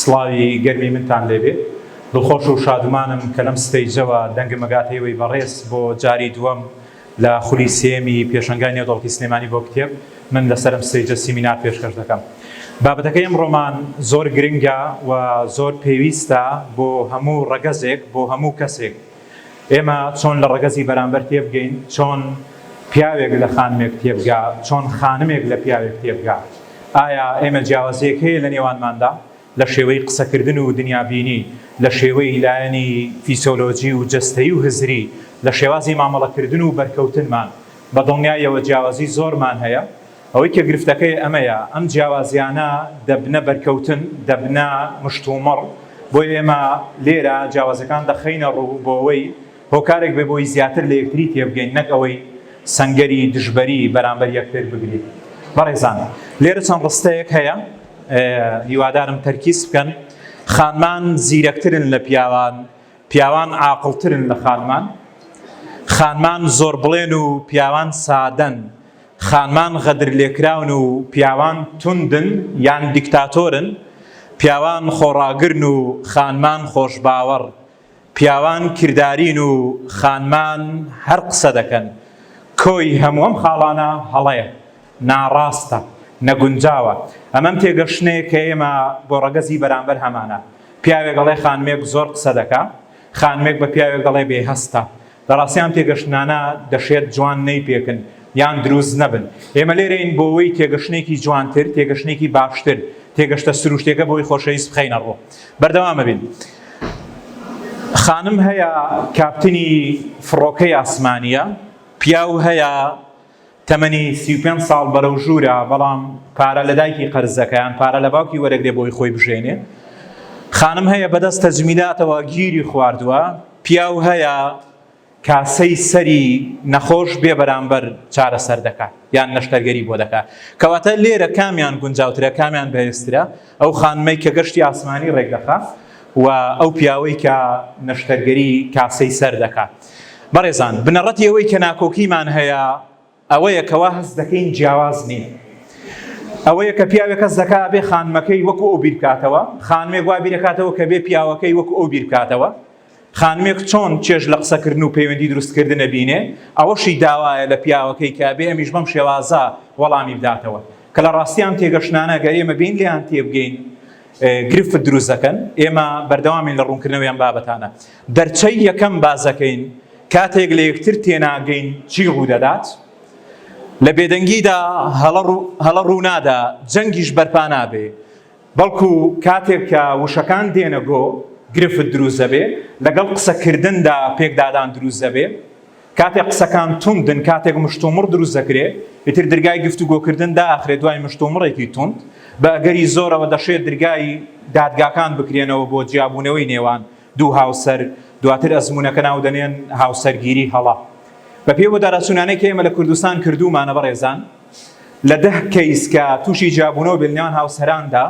سڵاوی گەرمی منتان لێبێ. دڵخۆش و شادومانم کە لەم ستەیجەوە دەنگم ئەگاتە ئێوەی بەڕێز بۆ جاری دووەم لە خولی سێیەمی پێشەنگای نێودەوڵەتی سلێمانی بۆ کتێب من لەسەر ئەم ستەیجە سیمینار پێشکەش دەکەم. بابەتەکەی ئەمڕۆمان زۆر گرنگە و زۆر پێویستە بۆ هەموو ڕەگەزێک، بۆ هەموو کەسێک. ئێمە چۆن لە ڕەگەزی بەرامبەر تێبگەین، چۆن پیاوێک لە خانمێک تێبگا، چۆن خانمێک لە پیاوێک تێبگا؟ ئایا ئێمە جیاوازییەک هەیە لە نێوانماندا لە شێوەی قسەکردن و دنیابینی، لە شێوەی لایەنی فیسۆلۆجی و جەستەیی و هزری، لە شێوازی مامەڵەکردن و بەرکەوتنمان؟ بە دڵنیاییەوە جیاوازی زۆرمان هەیە. ئەوەی کە گرفتەکەی ئەمەیە، ئەم جیاوازییانە دەبنە بەرکەوتن، دەبنە مشتومڕ، بۆیە ئێمە لێرە جیاوازییەکان دەخەینە ڕوو بۆ ئەوەی هۆکارێک بێت بۆی زیاتر لە یەکتری تێبگەین نەک ئەوەی سەنگەری دژبەری بەرامبەر یەکتر بگرین. بەڕێزان لێرە چەند ڕستەیەک هەیە هیوادارم تەرکیز بکەن، خانمان زیرەکترن لە پیاوان، پیاوان عاقڵترن لە خانمان، خانمان زۆربڵێن و پیاوان سادەن، خانمان غەدر لێکراون و پیاوان توندن یان دیکتاتۆرن، پیاوان خۆڕاگرن و خانمان خۆشباوەڕ، پیاوان کردارین و خانمان هەر قسە دەکەن. کۆی هەموو ئەم خاڵانە هەڵەیە، ناڕاستە، نەگونجاوە. ئەمەم تێگەشتنەیە کە ئێمە بۆ ڕەگەزی بەرامبەر هەمانە. پیاوێک ئەڵێ خانمێک زۆر قسە دەکا، خانمێک بە پیاوێک دەڵێ بێ هەستە. لە ڕاستی ئەم تێگەشتنانە دەشێت جوان نەیپێکن یان دروست نەبن. ئێمە لێرەین بۆوەی تێگەشتنێکی جوانتر، تێگەشتنێکی باشتر، تێگەشتە سروشتیەکە بۆی خۆشەویست بخەینە ڕوو. بەردەوام ئەبین. خانم هەیە کاپتنی فڕۆکەی ئاسمانیە، پیاو هەیە، تەمەنی سی و پێنج ساڵ بەرەو ژوورە، بەڵام پارە لە دایکی قەرز دەکا یان پارە لە باوکی وەرەگرێ بۆی خۆی بژێنێ. خانم هەیە بەدەست تەجمیلاتەوە گیری خواردوە، پیاو هەیە کاسەی سەری نەخۆش بێ بەرامبەر چارەسەر دەکا یان نەشتەرگەری بۆ دەکا. کەواتە لێرە کامیان گونجاوترە، کامیان بەهێزترە، ئەو خانمەی کە گەشتی ئاسمانی ڕێک دەخا و ئەو پیاوەی کە نەشتەرگەری کاسەی سەر دەکا؟ بەڕێزان بنەڕەتی ئەوەی کە ناکۆکیمان هەیە ئەوەیە کەوا هەست دەکەین جیاواز نین ئەوەیە کە پیاوێک کەس دەکا بێ خانمەکەی وەکو ئەو بیرکاتەوە خانمێک وا بیرەکاتەوە کە بێ پیاوەکەی وەکو ئەو بیرکاتەوە خانمێک چۆن چێژ لە قسەکردن و پەیوەندی دروستکردنە بینێ ئەوەشی داوایە لە پیاوەکەی کە بێ ئەمیش بەم شێوازە وەڵامی بداتەوە کە لە ڕاستیان تێگەشتانە گەر ئێمە بین لێیان تێبگەین گرفت دروست دەکەن ئێمە بەردەوامین لە ڕوونکردنەوەیان بابەتانە دەرچەی یەکەم باس دەکەین، کاتێک لە یەکتر تێناگەین چی ڕوودەدات؟ لە بێدەنگیدا هەڵە ڕوونادا، جەنگیش بەرپا نابێ، بەڵکو کاتێک کە وشەکان دێنە گۆ، گرفت دروست دەبێ، لەگەڵ قسەکردندا پێکدادان دروست دەبێ، کاتێک قسەکان توندن، کاتێک مشتومڕ دروست دەکرێ، ئیتر درگای گفتوگۆکردن دائەخرێ دوای مشتومڕێکی توند، بە ئەگەری زۆرەوە دەشێ درگای دادگاکان بکرێنەوە بۆ جیابوونەوەی نێوان دوو هاوسەر دواتر ئەزموونەکە ناودەنێن هاوسەرگیری هەڵە. بەپێی وەدارەچوونانەی کە ئێمە لە کوردستان کردوومانە بەڕێزان، لە دە کەیس کە تووشی جیابوونەوە بێت لەنێوان هاوسەراندا،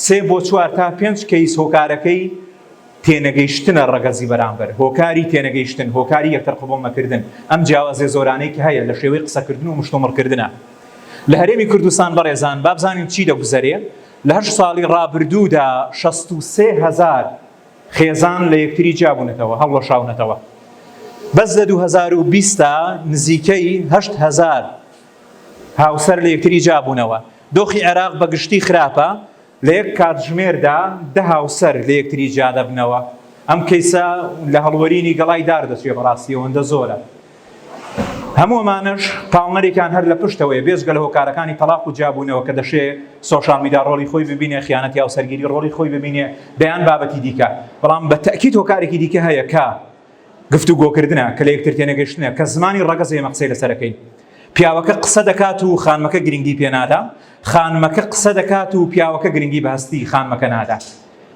سێ بۆ چوار تا پێنج کەیس هۆکارەکەی تێنەگەیشتنە ڕەگەزی بەرامبەر، هۆکاری تێنەگەیشتن، هۆکاری یەکتر قبوڵ نەکردن، ئەم جیاوازییە زۆرانەی کە هەیە لە شێوەی قسەکردن و مشتومڕکردنا لە هەرێمی کوردستان بەڕێزان با بزانین چی دەگوزەرێ؟ لە هەشت ساڵی ڕابردوودا شەست و سێ هەزار خێزان لە یەکتری جیابوونەتەوە، هەڵوەشاونەتەوە. بەس لە دوو هەزار و بیست دا نزیکەی هەشت هەزار هاوسەر لە یەکتری جیابوونەوە. دۆخی عێراق بە گشتی خراپە، لە یەک کاتژمێردا دە هاوسەر لە یەکتری جیا دەبنەوە. ئەم کەیسە لە هەڵوەرینی گەڵای دار دەچێت، بەڕاستی ئەوەندە زۆرە. هەموو ئەمانەش پاڵنەرێکیان هەر لە پشتەوەیە بێجگە لە هۆکارەکانی تەڵاق و جیابوونەوە کە دەشێ سۆشیال میدیا ڕۆڵی خۆی ببینێ خیانەت یا سەرگیری ڕۆڵی خۆی ببینێ دەیان بابەتی دیکە بەڵام بە تەکیت هۆکارێکی دیکە هەیە کە گفتوگۆکردنە کە لە یەکتر تێنەگەشتنە کە زمانی ڕەگەز ئێمە قسەی لەسەرەکەین پیاوەکە قسە دەکات و خانمەکە گرنگی پێنادا خانمەکە قسە دەکات و پیاوەکە گرنگی بە هەستی خانمەکە نادا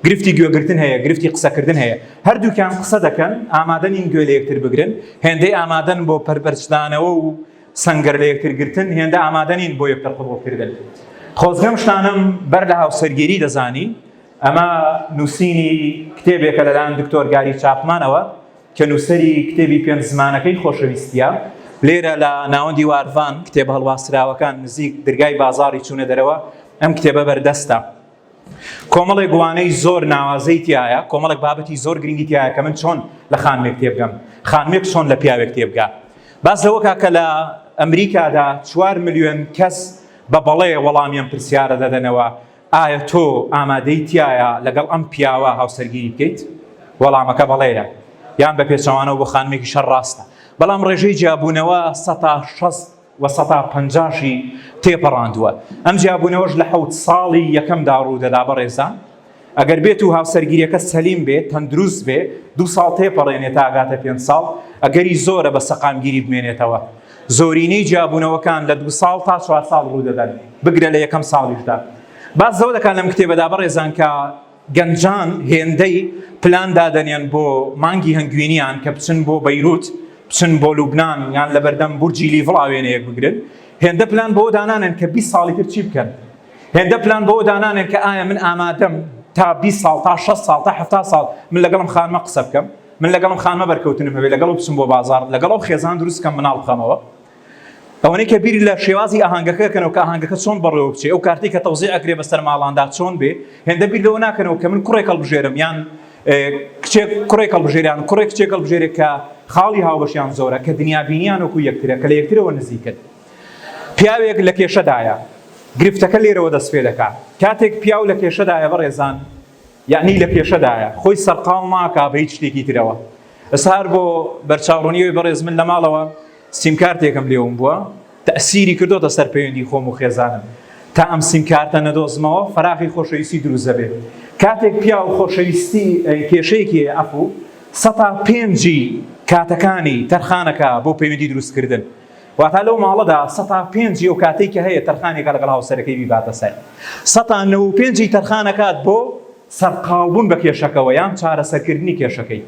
گرفتی گوێگرتن هەیە گرفتی قسەکردن هەیە هەردووکیان قسە دەکەن ئامادە نین گوێ لە یەکتر بگرن هێندەی ئامادەن بۆ پەرپەرچدانەوە و سنگەر لە یەکترگرتن هێندە ئامادە نین بۆ یەکتر قبوڵکردن خۆزگەم شتانم بەر لە هاوسەرگیری دەزانی ئەمە نووسینی کتێبێکە لەلایەن دکتۆر گاری چاپمانەوە کە نووسری کتێبی پێنج زمانەکەی خۆشەویستە لێرە لە ناوەندی وارڤان کتێب هەڵواسراوەکان نزیک درگای بازاری چوونە دەرەوە ئەم کتێبە بەردەستە کۆمەڵێک وانەی زۆر ناوازەی تایە کۆمەڵێک بابەتی زۆر گرنگی تایە کە من چۆن لە خانمێک تێبگەم خانمێک چۆن لە پیاوێک تێبگا باس لەوەکە کە لە ئەمریکادا چوار ملیۆن کەس بە بەڵێ وەڵامیان پرسیارە دەدەنەوە ئایا تۆ ئامادەی تایە لەگەڵ ئەم پیاوە هاوسەرگیری بکەیت وەڵامەکە بەڵێە یان بە پێچەوانەوە بۆ خانمێکی شەر ڕاستە بەڵام ڕێژەی جیابوونەوە سە شەست و سەتا پەنجاشی تێپەڕاندووە ئەم جیابوونەوەش لە حەوت ساڵی یەکەمدا ڕوودەدا بەڕێزان ئەگەر بێت و هاوسەرگیریەکە سەلیم بێ تەندروست بێ دو ساڵ تێپەڕێنێ تاگاتە پێنج ساڵ ئەگەری زۆرە بە سەقامگیری بمێنێتەوە زۆرینەی جیابوونەوەکان لە دو ساڵ تا چوار ساڵ ڕوودەدەن بگرە لە یەکەم ساڵیشدا باس زەو دەکات لەم کتێبەدا بەڕێزان کە گەنجان هێندەی پلان دادەنێن بۆ مانگی هەنگوینیان کە بچن بۆ بەیروت، بچن بۆ لوبنان یان لەبەردەم بورجی لیڤڵا وێنەیەک بگرن، هێندە پلان بەوە دانانێن کە بیست ساڵی تر چی بکەن، هێندە پلان بەوە دانانێن کە ئایا من ئامادەم تا بیست ساڵ، تا شەست ساڵ، تا حەفتا ساڵ من لەگەڵ ئەم خانمە قسە بکەم، من لەگەڵ ئەم خانمە بەرکەوتنم هەبێت، لەگەڵ ئەو بچم بۆ بازاڕ، لەگەڵ ئەو خێزان دروست بکەم مناڵ بخەمەوە. ئەوەنەی کە بیری لە شێوازی ئاهنگەکە کەنەوە کە ئاهنگەکە چۆن بەڕێوە بچێ ئەو کارتی کە تەوزی ئەکرێ بەسەر ماڵاندا چۆن بێ هێندە بیر لەوە ناکەنەوە کە من کوڕێک هەڵبژێرم یان کچێک کوڕێک هەڵبژێریان کوڕێک کچێک هەڵبژێرێک کە خاڵی هاوبەشیان زۆرە کە دنیابینیان وەکو یەکترە کە لە یەکترەوە نزیکن پیاوێک لە کێشەدایە گرفتەکە لێرەوە دەست پێ دەکات کاتێک پیاو لە کێشەدایە بەڕێزان یعنی لە کێشەدایە خۆی سەرقاو ماکە بە هیچ شتێکی ترەوە ئەسهار بۆ بەرچاوڕونیەوەی بەڕێز من لە ماڵەوە سیمکارتێکم لێ ون بووە تەئسیری کردۆتە سەر پەیوەندی خۆم و خێزانم تا ئەم سیمکارتە نەدۆزمەوە فەراغی خۆشەویستی دروست دەبێت کاتێک پیاو خۆشەویستی کێشەیەکی هەیە ئەفو سەتا پێنجی کاتەکانی تەرخانەکە بۆ پەیوەندی دروستکردن واتا لەو ماڵەدا سەتا پێنجی ئەو کاتێکی هەیە تەرخانێکە لەگەڵ هاوسەرەکەی بیباتە سەر سەتا نەوە پێنجی تەرخانەکات بۆ سەرقاڵبوون بە کێشەکەوە یان چارەسەرکردنی کێشەکەی.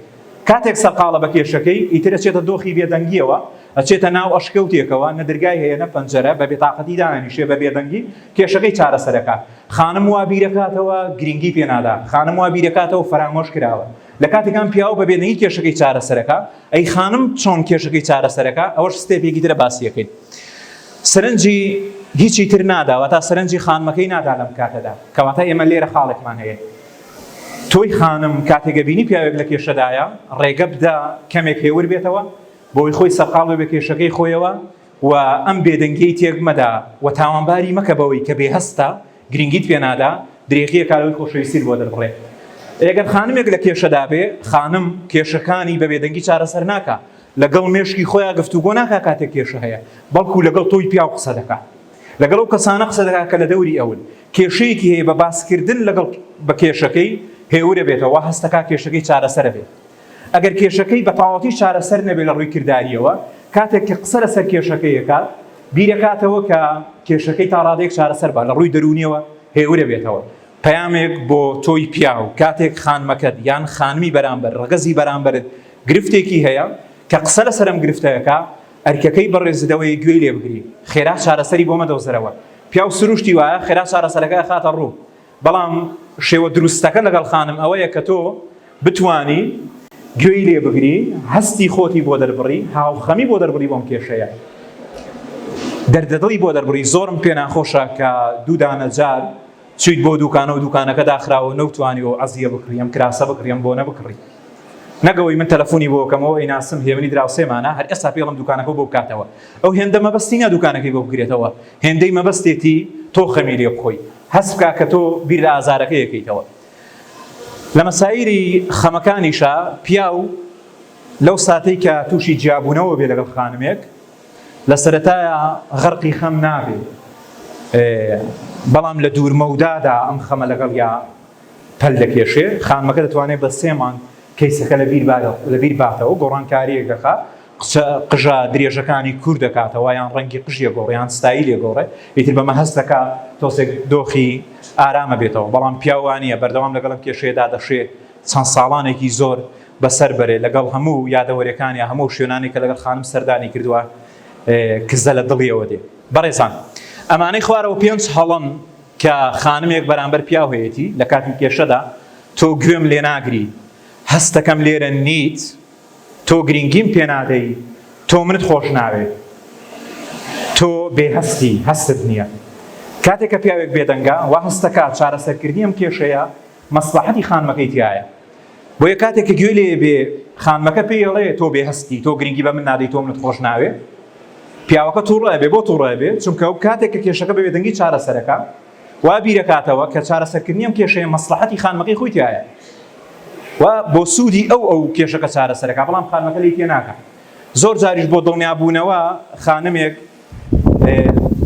کاتێک سەرقاڵە بە کێشەکەی، ئیتر ئەچێتە دۆخی بێدەنگییەوە، ئەچێتە ناو ئەشکەوتێکەوە، نە درگای هەیە نە پەنجەرە، بە بێتاقەتی دائەنیشێ، بە بێدەنگی کێشەکەی چارەسەرەکات. خانم وا بیرەکاتەوە گرینگی پێنادات، خانم وا بیرەکاتەوە فەرامۆش کراوە. لە کاتێکام پیاو بە بێدەنگی کێشەکەی چارەسەرەکات، ئەی خانم چۆن کێشەکەی چارەسەرەکە ئەوەش ستێپێکی ترە باسیەکەین سەرنجی هیچی تر ناداوە تا سەرنجی خانمەکەی نادا لەم کاتەدا کەواتە ئێمە لێرە خاڵێکمان هەیە تۆی خانم کاتێکە بینی پیاوێک لە کێشەدایە ڕێگە بدا کەمێک هێور بێتەوە بۆی خۆی سەرقاڵ بێ کێشەکەی خۆیەوە و ئەم بێدەنگیەی تێک مەدە و تاوانباری مەکە بەوەی کە بێ هەستە، گرنگیت پێ نادا، درێغیە کا لەوەی خۆشەویستیت بۆ دەربڕێ. ئەگەر خانمێک لە کێشەدا بێ، خانم کێشەکانی بە بێدەنگی چارەسەر ناکا، لە گەڵ مێشکی خۆیا گفتوگۆ ناکا کاتێک کێشە هەیە، بەڵکو لە گەڵ تۆی پیاو قسە دەکا. لە گەڵ ئەو کەسانە قسە دەکا کە لە دەوری ئەون. کێشەیەکی هەیە بە باس کردن لە گەڵ بە کێشەکەی هێورە بێتەوە، وا هەست دەکا کێشەکەی چارەسەرە بێ. ئەگەر کێشەکەی بە تەواوەتی چارەسەر نەبێت لە ڕووی کردارییەوە، کاتێک کە قسە لەسەر کێشەکەی دەکات، بیردەکاتەوە کە کێشەکەی تا ڕادەیەک چارەسەر بە لە ڕووی دەروونییەوە هێورەبێتەوە. پەیامێک بۆ تۆی پیاو، کاتێک خانمەکەت یان خانمی بەرامبەر، ڕەگەزی بەرامبەرت، گرفتێکی هەیە، کە قسە لەسەر ئەم گرفتە دەکا، ئەرکەکەی بەڕێزت ئەوەیە گوێی لێ بگری، خێرا چارەسەری بۆ مەدۆزرەوە. پیاو سروشتی وایە، خێرا چارەسەرەکە ئەخاتە ڕوو. بەڵام شێوە دروستەکە لەگەڵ خانم ئەوەیە کە تۆ بتوانی گوێی لێ بگری، هەستی خۆتی بۆ دەربڕی، هاوخەمی بۆ دەربڕی بۆم کێشەیە. دەردەدڵی بۆ دەربڕی، زۆرم پێ ناخۆشە کە دوو دانە جار چویت بۆ دوکانە و دوکانەکە داخراوە نەوتوانی ئەو عەزیە بکڕی، ئەم کراسە بکڕی، ئەم بۆنە بکڕی. نەک ئەوەی من تەلەفونی بۆ بکەم، ئەو ئەیناسم، هێمنی دراوسێمانە، هەر ئێستا پێڵم دوکانەکەو بۆ بکاتەوە. ئەو هێندە مەبەستی نیە دوکانەکەی بۆ بگرێتەوە، هێندەی مەبەستێتی تۆ خەمی لێ بخۆی هەست بکە کە تۆ بیر لە ئازارەکەی ئەکەیتەوە. لە مەسایری خەمەکانیشا پیاو لەو ساتەی کە تووشی جیابوونەوە بێ لەگەڵ خانمێک لە سەرەتایە غەرقی خەم نابێ بەڵام لە دوورمەودادا ئەم خەمە لەگەڵ یا پەل دەکێشێ خانمەکە دەتوانێت بە سێ مانگ کەیسەکە لەبیر لەبیر باتەوە گۆڕانکاریەک دەخا قسە قژە درێژەکانی کور دەکاتەوە یان ڕەنگی قژیە گۆڕێ یان ستایلێ گۆڕێ ئیتر بەمە هەست دەکا تۆسێک دۆخی ئارامە بێتەوە بەڵام پیاو وانیە بەردەوام لەگەڵ ئەم کێشەیەدا دەشێ چەند ساڵانێکی زۆر بەسەر بەرێ لەگەڵ هەموو یادەوەریەکانیا هەموو شوێنانی کە لەگەڵ خانم سەردانی کردووە کزە لە دڵیەوە دێ بەڕێزان ئەمانەی خوارەوە پێنج هەڵەن کە خانمێک بەرامبەر پیاو هەیەتی لە کاتی کێشەدا تۆ گوێم لێناگری هەستەکەم لێرە نیت تۆ گرینگیم پێ نادەی تۆ منت خۆش ناوێ تۆ بێ هەستی هەستت نیە کاتێ کە پیاوێک بێدەنگە وا هەستەکە چارەسەرکردنی ئەم کێشەیە مەسلەحەتی خانمەکەی تایە بۆیە کاتێک کە گوێ لێ بێ خانمەکە پێی ئەڵێ تۆ بێ هەستی تۆ گرنگی بە من نادەی تۆ منت خۆش ناوێ پیاوەکە تووڕە بێ بۆ تووڕە بێ چونکە ئەو کاتێک کە کێشەکە بە بێدەنگی چارەسەرەکە وا بیرەکاتەوە کە چارەسەرکردنی ئەم کێشەیە مەسڵەحەتی خانمەکەی خۆی تیایە و بۆ سوودی ئەو ئەو کێشەکە چارەسەرەکە بەڵام خانمەکە لی تێناکە زۆر جاریش بۆ دڵنیابوونەوە خانمێک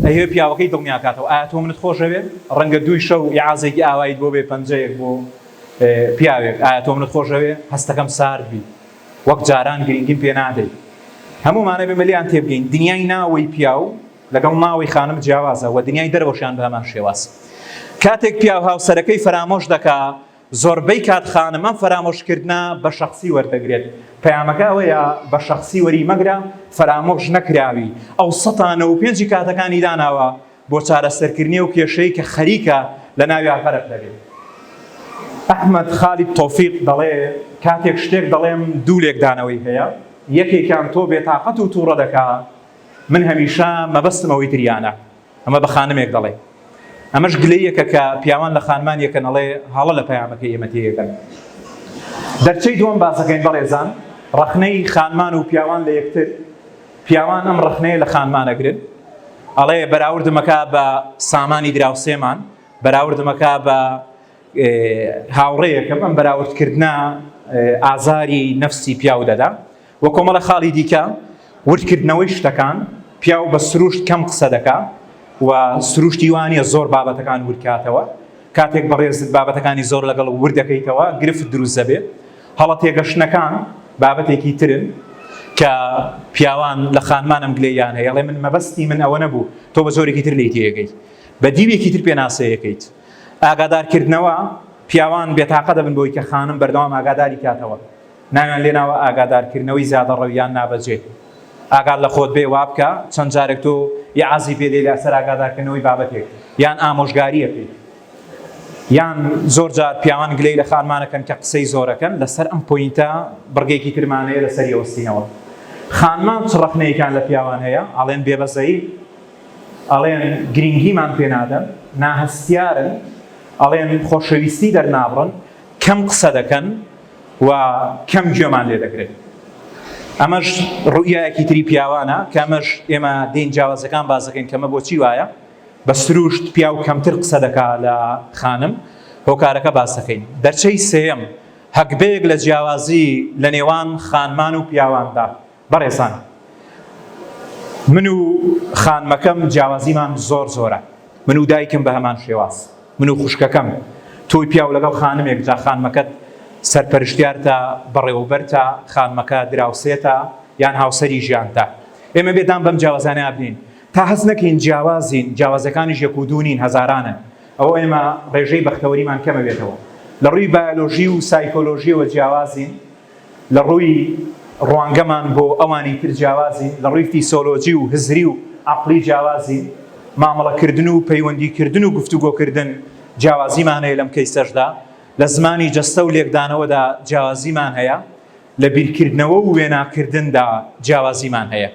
ئەهێ پیاوەکەی دڵنیاکاتەوە ئایا تۆ منت خۆشەوێ ڕەنگە دووی شەو یاعازێکی ئاوایت بۆ بێ پەنجەیەک بۆ پیاوێک ئایا تۆ منت خۆشەوێ هەستەکەم سارد بی وەک جاران گرنگیم پێ نادەیت هەمومانە بێمەلیان تێبگەین دنیای ناوەی پیاو لەگەڵ ناوی خانم جیاوازە وە دنیای دەرەوەشیان بە هەمان شێواز کاتێک پیاو هاوسەرەکەی فەرامۆش دەکا زۆربەی کات خانم ئەم فەرامۆش کردنە بە شەخسی وەردەگرێت پەیامەکە ئەوەیە بە شەخسی وەری مەگرە فەرامۆش نەکراوی ئەو سەتا نەوە و پێنجی کاتەکانی داناوە بۆ چارەسەرکردنی ئەو کێشەی کە خەریکە لە ناویا غەرق دەبێت ئەحمەد خالید تۆفیق دەڵێ کاتێک شتێک دەڵێم دوو لێکدانەوەی هەیە یەکێکیان تۆ بێتاقەت و توڕە دەکا من هەمیشە مەبەستم ئەوەی تریانە. ئەمە بە خانمێک دەڵێ. ئەمەش گلەییەکە کە پیاوان لە خانمان یەکەن، ئەڵێ هەڵە لە پەیامەکەی ئێمە تێیەکەن. دەرچەی دووەم باسەکەین بەڕێزان، ڕەخنەی خانمان و پیاوان لە یەکتر، پیاوان ئەم ڕەخنەیە لە خانمان ئەگرن، ئەڵێ بەراوردم ئەکا بە سامانی دراوسێمان، بەراوردم ئەکا بە هاوڕێیەکم، ئەم بەراوردکردنە ئازاری نەفسی پیاو دەدا. و کۆمەڵە خاڵی دیکە وردکردنەوەی شتەکان پیاو بە سروشت کەم قسە دەکا و سروشتی وانە زۆر بابەتەکان وردکاتەوە کاتێک بەڕێزت بابەتەکانی زۆر لەگەڵ وردەکەیتەوە گرفت دروست دەبێت هەڵە تێگەشتنەکان بابەتێکی ترن کە پیاوان لە خانمانم گلەیان هەیە ڵێ من مەبەستی من ئەوە نەبوو تۆ بە زۆرێکی تر لی تێگەی بە دیوێکی تر پێناسەیەکەیت ئاگادارکردنەوە پیاوان بێتاقە دەبن بۆی کە خانم بەردەوام ئاگاداری کاتەوە ناویان لێناوە ئاگادارکردنەوەی زیادەڕەو یان نابەجێ. ئاگات لە خۆت بێ وابکە چەند جارێک تۆ یعازی پێ دێ لەسەر ئاگادارکردنەوەی بابەتێک یان ئامۆژگارییەکەی. یان زۆر جار پیاوان گلەی لە خانمانەکەن کە قسەی زۆرەکەن لەسەر ئەم پۆینتە بڕگەیەکی ترمان هەیە لەسەری ئەوەستینەوە خانمان چ ڕەخنەیەکیان لە پیاوان هەیە ئەڵێن بێبەزەین ئەڵێن گرینگیمان پێ نادەن ناهەستیارن ئەڵێن خۆشەویستی دەرنابڕن کەم قسە دەکەن و کەم گوێمان لێ دەگرن ئەمەش ڕوئایەکی تری پیاوانە کە ئەمەش ئێمە دین جیاوازەکان بازەکەین کەمە بۆچی وایە بە سروشت پیاو کەمتر قسە دەکا لە خانم هۆکارەکە باسەکەین دەرچەی سێم هەگبەیەک لە جیاوازی لە نێوان خانمان و پیاواندا بەڕێزان من و خانمەکەم جیاوازیمان زۆر زۆرە من و دایکم بە هەمان شێواز من و خوشکەکەم تۆی پیاو لەگەڵ خانمێک جا خانمەکەت سەرپەرشتیارتە بەڕێوەبەرتە خانمەکە دراوسێتە یان هاوسەری ژیانتە ئێمە بێدان بەم جیاوازانە بنین تا هەست نەکەین جیاوازین جیاوازەکانیش یەک و دوونین هەزارانن ئەوە ئێمە ڕێژەی بەختەوەریمان کەمەوێتەوە لە ڕووی بایۆلۆژی و سایکۆلۆژیەوە جیاوازین لە ڕووی ڕوانگەمان بۆ ئەوانی تر جیاوازین، لە ڕووی فیسۆلۆجی و هزری و عەقڵی جیاوازین، مامەڵەکردن و پەیوەندیکردن و گفتوگۆکردن جیاوازیمان هەیە لەم کەیسەشدا، لە زمانی جەستە و لێکدانەوەدا جیاوازیمان هەیە، لە بیرکردنەوە و وێناکردندا جیاوازیمان هەیە.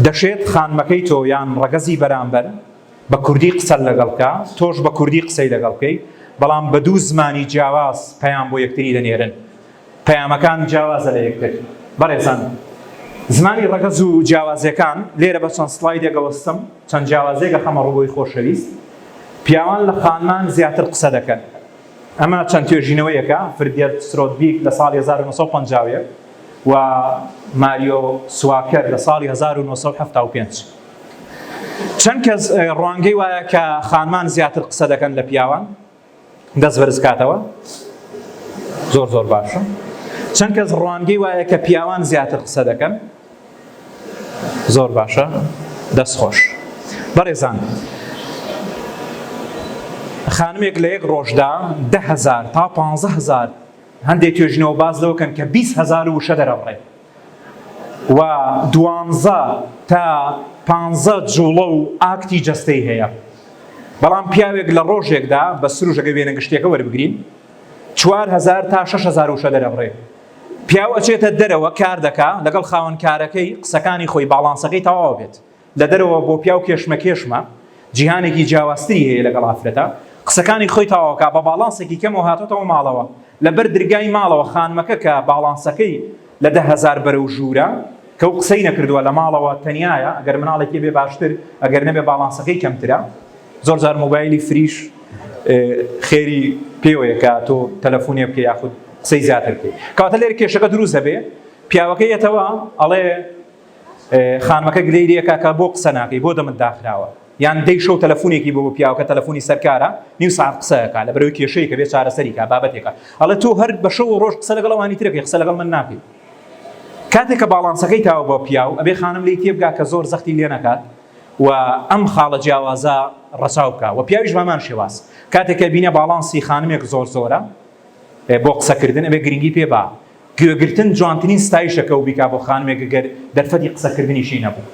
دەشێت خانمەکەی تۆ یان ڕەگەزی بەرامبەر، بە کوردی قسەت لەگەڵ بکا، تۆش بە کوردی قسەی لەگەڵ بکەی، بەڵام بە دوو زمانی جیاواز پەیام بۆ یەکتری دەنێرن، پەیامەکان جیاوازە لە یەکتر. بەڕێزان زمانی ڕەگەز و جیاوازیەکان لێرە بە چەند سڵایدێکەوە ستەم چەند جیاوازیەک ئەخەمە ڕووی خۆشەویست، پیاوان لە خانمان زیاتر قسە دەکەن، ئەمە چەند توێژینەوەیەکە، فرگێرت سترۆدبیک لە ساڵی هەزار و نۆ سەد و پەنجا و یەک و ماریۆ سواکەر لە ساڵی هەزار و نۆ سەد و حەفتا و پێنج. چەند کەس ڕوانگەی وایە کە خانمان زیاتر قسە دەکەن لە پیاوان دەست بەرزکاتەوە زۆر زۆر باشە چەند کەس ڕوانگەی وایە کە پیاوان زیاتر قسە دەکەن زۆر باشە دەست خۆش بەڕێزان خانمێک لە یەک ڕۆژدا دههزار تا پهزار هەندێک توێژنەوە باز لەوکەن کە 20هزار وشە دەرەڕێت و دوانزە تا پانزە جوڵە و ئاکتی جەستەی هەیە بەڵام پیاوێک لە ڕۆژێکدا بە سروشەکە وێنە گشتیەکە وەربگرین چوار هزار تا شش هزار وشە دەرەبڕێ پیاو ئەچێتە دەرەوە کار دەکا لەگەڵ خاوەنکارەکەی قسەکانی خۆی باڵانسەکەی تەواو بێت لە دەرەوە بۆ پیاو کێشمەکێشمە، جیهانێکی جیاوازتری هەیە لەگەڵ ئافرەتە. قسەکانی خۆی تەواوکا بە باڵانسێکی کەمەوە هاتۆتەوە ماڵەوە. لە بەر درگای ماڵەوە خانمەکە کە باڵانسەکەی لە دە هەزار بەرەو ژوورە، کەو قسەی نەکردووە لە ماڵەوە تەنیایە، ئەگەر مناڵێکی بێ باشتر ئەگەر نەبێ باڵانسەکەی کەمترە. زۆر جار مۆبایلی فریش خێری پێوەیە کە تۆ تەلەفونێ بکەی یاخود قسەی زیاتر بکەی. کەواتە لێرە کێشەکە دروست دەبێ. پیاوەکە یەتەوە ئەڵێ. خانمەکە گلەی لێکا کە بۆ قسە ناکەی بۆ دەمت داخراوە یان دەی شەو تەلەفونێکی بۆ پیاوکە تەلەفونی سەرکارە نیو ساعەت قسەکە لە بەرەوەی کێشەیەکە بێ چارەسەریکە بابەتێکە ئەڵە تۆ هەر بە شەو ڕۆژ قسە لەگەڵ ئەوانی ترەکەی قسە لەگەڵ من ناکەی کاتێک کە باڵانسەکەی تاوە بۆ پیاو ئەبێ خانم لی تێبگا کە زۆر زەختی لێ نەکات و ئەم خاڵە جیاوازە ڕەچاو بکە و پیاویش بامان شێواز کاتێکە بینە باڵانسی خانمێک زۆر زۆرە بۆ قسەکردن ئەبێ گرنگی پێ با گوێگرتن جوانترین ستایشە کەو بیکا بۆ خانمێک گەر دەرفەتی قسەکردنیشی نەبوو.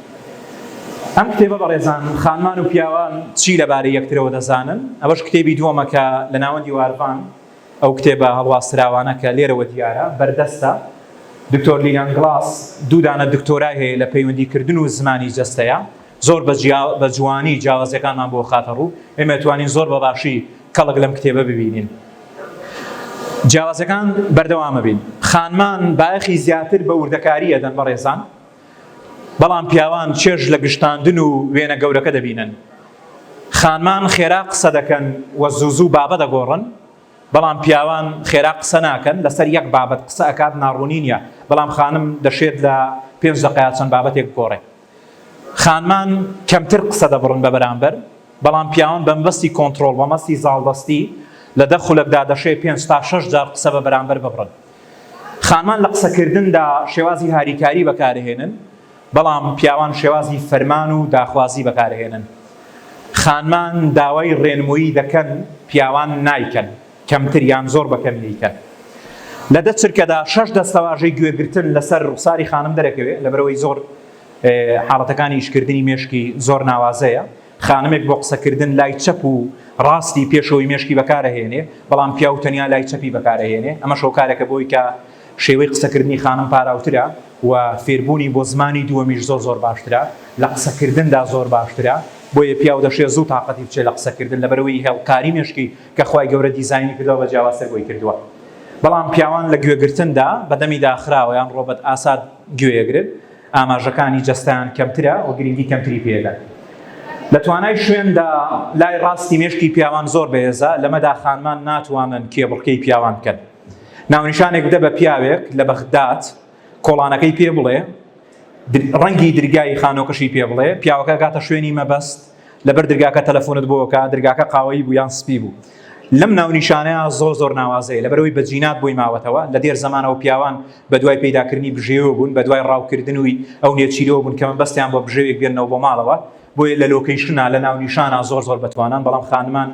ئەم کتێبە بەڕێزان خانمان و پیاوان چی لەبارەی یەکترەوە دەزانن؟ ئەوەش کتێبی دووەمە کە لە ناوەندی وارڤان ئەو کتێبە هەڵواسراوانە کە لێرەوە دیارە بەردەستە. دکتۆر لیلان گڵاس دوو دانە دکتۆرای هەیە لە پەیوەندیکردن و زمانی جەستەیە. زۆر بە جیا بە جوانی جیاوازیەکانمان بۆ خاتە ڕوو ئێمە توانین زۆر بەباشی کەڵک لەم کتێبە ببینین جیاوازەکان بەردەوامە بین خانمان بایەخی زیاتر بە وردەکاریە دەن بەڕێزان بەڵام پیاوان چێژ لە گشتاندن و وێنە گەورەکە دەبینن خانمان خێرا قسە دەکەن و زوزو بابە دەگۆڕن بەڵام پیاوان خێرا قسە ناکەن لەسەر یەک بابەت قسە ئەکات ناڕوونینە بەڵام خانم دەشێت لە پێنج دقیا چەند بابەتێک گۆڕێ خانمان کەمتر قسە دەبڕن بە بەرامبەر، بەڵام پیاوان بە مەبەستی کۆنتڕۆڵ، بە مەستی زاڵدەستی، لە دە خولەکدا دەشێ پێنج تا شەش جار قسە بە بەرامبەر ببڕن. خانمان لە قسەکردندا شێوازی هاریکاری بەکارهێنن، بەڵام پیاوان شێوازی فەرمان و داخوازی بەکارهێنن. خانمان داوای ڕێنموویی دەکەن، پیاوان نایکەن. کەمتر یان زۆر بە کەمی دەیکەن. لە دە چرکەدا شەش دەستەواژەی گوێگرتن لەسەر ڕوخساری خانم دەرەکەوێ، لەبەرئەوەی زۆر حاڵەتەکانی ئیشکردنی مێشکی زۆر ناوازەیە، خانمێک بۆ قسەکردن لای چەپ و ڕاستی پێشەوەی مێشکی بەکارئەهێنێ، بەڵام پیاو تەنیا لای چەپی بەکارئەهێنێ، ئەمەش هۆکارێکە بۆی کە شێوەی قسەکردنی خانم پاراوترە و فێربوونی بۆ زمانی دووەمیش زۆر زۆر باشترە، لە قسەکردندا زۆر باشترە، بۆیە پیاو دەشێ زوو تاقەتی بچێ لە قسەکردن لەبەرئەوەی هێڵکاری مێشکی کە خوای گەورە دیزاینی کردوە بە جیاوازتر بۆی کردوە بەڵام پیاوان لە گوێگرتندا بەدەمی داخراوە یان ڕۆبەت ئاسات گوێیەگرن ئاماژەکانی جەستەیان کەمترە و گرنگی کەمتری پێدەن لە توانای شوێندا لای ڕاستی مێشکی پیاوان زۆر بەهێزە لەمەدا خانمان ناتوانن کێبڕکێی پیاوان بکەن ناونیشانێک بدە بە پیاوێک لە بەغداد کۆڵانەکەی پێ بڵێ، ڕەنگی درگای خانۆکەشی پێ بڵێ، پیاوەکە گاتە شوێنی مەبەست، لەبەر درگاکە تەلەفۆنت بۆ بکا، درگاکە قاوەیی بوو یان سپی بوو. لەم ناونیشانەیە زۆر زۆر ناوازەیە، لەبەرئەوەی بە جینات بۆی ماوەتەوە، لە دێر زەمانەوە پیاوان بە دوای پەیداکردنی بژێوێ بوون، بە دوای ڕاوکردنوی ئەو نێچیرەوە بوون کە مەبەستیان بووە بژێوێک بێننەوە بۆ ماڵەوە، بۆیە لە لۆکەیشنا، لە ناونیشانا زۆر زۆر بەتوانان، بەڵام خانمان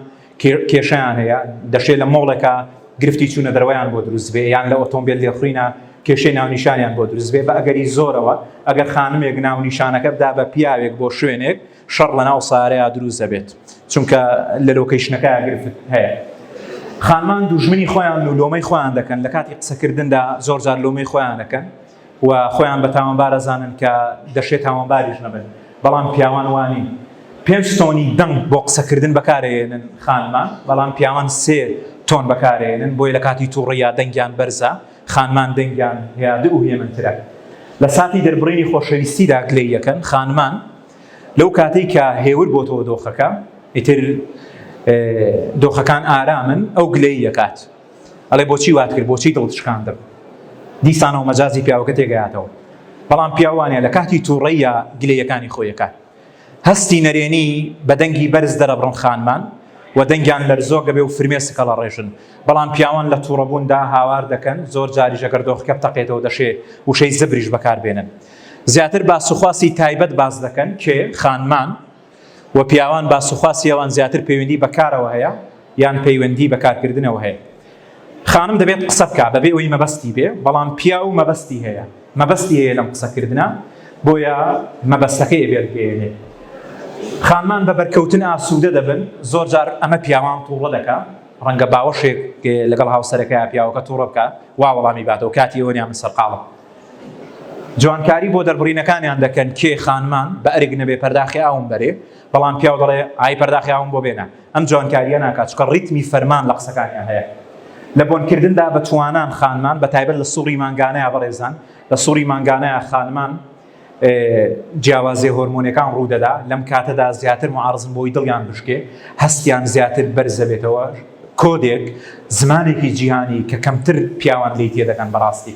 کێشەیان هەیە، دەشێ لە مۆڵێکا گرفتی چوونە دەرەوەیان بۆ دروست بێ، یان لە ئۆتۆمبێل لێخوڕینا کێشەی ناونیشانیان بۆ دروست بێ، بە ئەگەری زۆرەوە ئەگەر خانمێک ناونیشانەکە بدا بە پیاوێک بۆ شوێنێک، شەڕ لەناو سەیارەیا دروست دەبێت، چونکە لە لۆکەیشنەکەیا گرفت هەیە. خانمان دوژمنی خۆیانن و لۆمەی خۆیان دەکەن، لە کاتی قسەکردندا زۆرجار لۆمەی خۆیان دەکەن، و خۆیان بە تاوانبار ئەزانن کە دەشێ تاوانباریش نەبن بەڵام پیاوان وانین پێنج تۆنی دەنگ بۆ قسەکردن بەکارەیەنن خانمان بەڵام پیاوان سێ تۆن بەکارەیەنن بۆیە لە کاتی توڕیا دەنگیان بەرزە خانمان دەنگیان هێادئ و هێمنترە لە ساتی دەربڕینی خۆشەویستیدا گلەی یەکەن خانمان لەو کاتەی کە هێور بۆتەوە دۆخەکە ئیتر دۆخەکان ئارامن ئەو گلەی یەکات ئەڵێ بۆچی وات کرد بۆچی دڵت شکاندم دیسانەوە مەجازی پیاوەکە تێگەیاتەوە بەڵام پیاوانە لە کاتی تووڕەیە گلەیەکانی خۆیەکان هەستی نەرێنی بە دەنگی بەرز دەرەبڕن خانمان و دەنگیان لەرزۆک دەبێ و فرمێ سکەڵە ڕێژن بەڵام پیاوان لە تووڕەبووندا هاوار دەکەن زۆر جاری ژەگەردۆخکە بتەقێتەوە دەشێ وشەی زبریش بەکاربێنن زیاتر باس و خواسی تایبەت باس دەکەن کێ خانمان وە پیاوان باسوخواسی ئەوان زیاتر پەیوەندی بە کارەوە هەیە یان پەیوەندی بە کارکردنەوە هەیە خانم دەبێت قسە بکا بەبێ ئەوەی مەبەستی بێ بەڵام پیاو مەبەستی هەیە مەبەستی هەیە لەم قسەکردە بۆیە مەبەستەکەی بێت بێنێ خانمان بە بەرکەوتن ئاسوودە دەبن زۆر جار ئەمە پیاوان تووڕە دەکە ڕەنگە باوەشێک لەگەڵ هاوسەرەکە پیاوەکە تووڕە بکە وا وەڵامی باتەوە کاتی ئەوەنیان من سەرقاڵم جوانکاری بۆ دەربڕینەکانیان دەکەن کێ خانمان بە ئەرک نەبێ پەرداخی ئاوم بەرێ بەڵام پیاو دەڵێ ئای پەرداخی ئاوم بۆ بێنە ئەم جوانکاریە ناکات چکە ڕیتمی فەرمان لە قسەکانیان هەیە لە بۆنکردندا بە توانان خانمان بە تایبەت لە سوڕی مانگانەیە بەڕێزان لە سوڕی مانگانەیە خانمان جیاوازی هۆرمۆنەکان ڕوودەدا لەم کاتەدا زیاتر معارزم بۆی دڵیان بشکێ هەستیان زیاتر بەرزەبێتەوە کۆدێک زمانێکی جیهانی کە کەمتر پیاوان لی تێ دەکەن بەڕاستی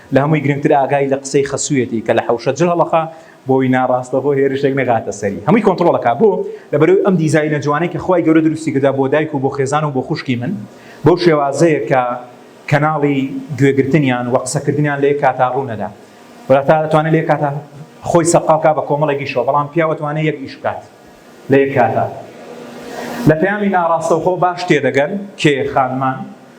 لە هەمووی گرنگتر ئاگای لە قسەی خەسوویەتی کە لە حەوشە جل هەڵەخا بۆی ناڕاستەخۆ هێرشێک نەگاتە سەری هەمووی کۆنتڕۆڵ ئەکا بۆ؟ لەبەرەوەی ئەم دیزاینە جوانەی کە خوای گەورە دروستی کردە بۆ دایک و بۆ خێزان و بۆ خوشکی من بەو شێوازەیە کە کەناڵی گوێ گرتنیان وە قسە کردنیان لە یەک کاتا ڕوو نەدا وەتا ئەتوانێ لە یەک کاتا خۆی سەرقاڵ بکا بە کۆمەڵێک ئیشەوە بەڵام پیاو ئەتوانێ یەک ئیش بکات لە یەک کاتا لە پەیامی ناڕاستەوخۆ باش تێدەگەن کێ خانمان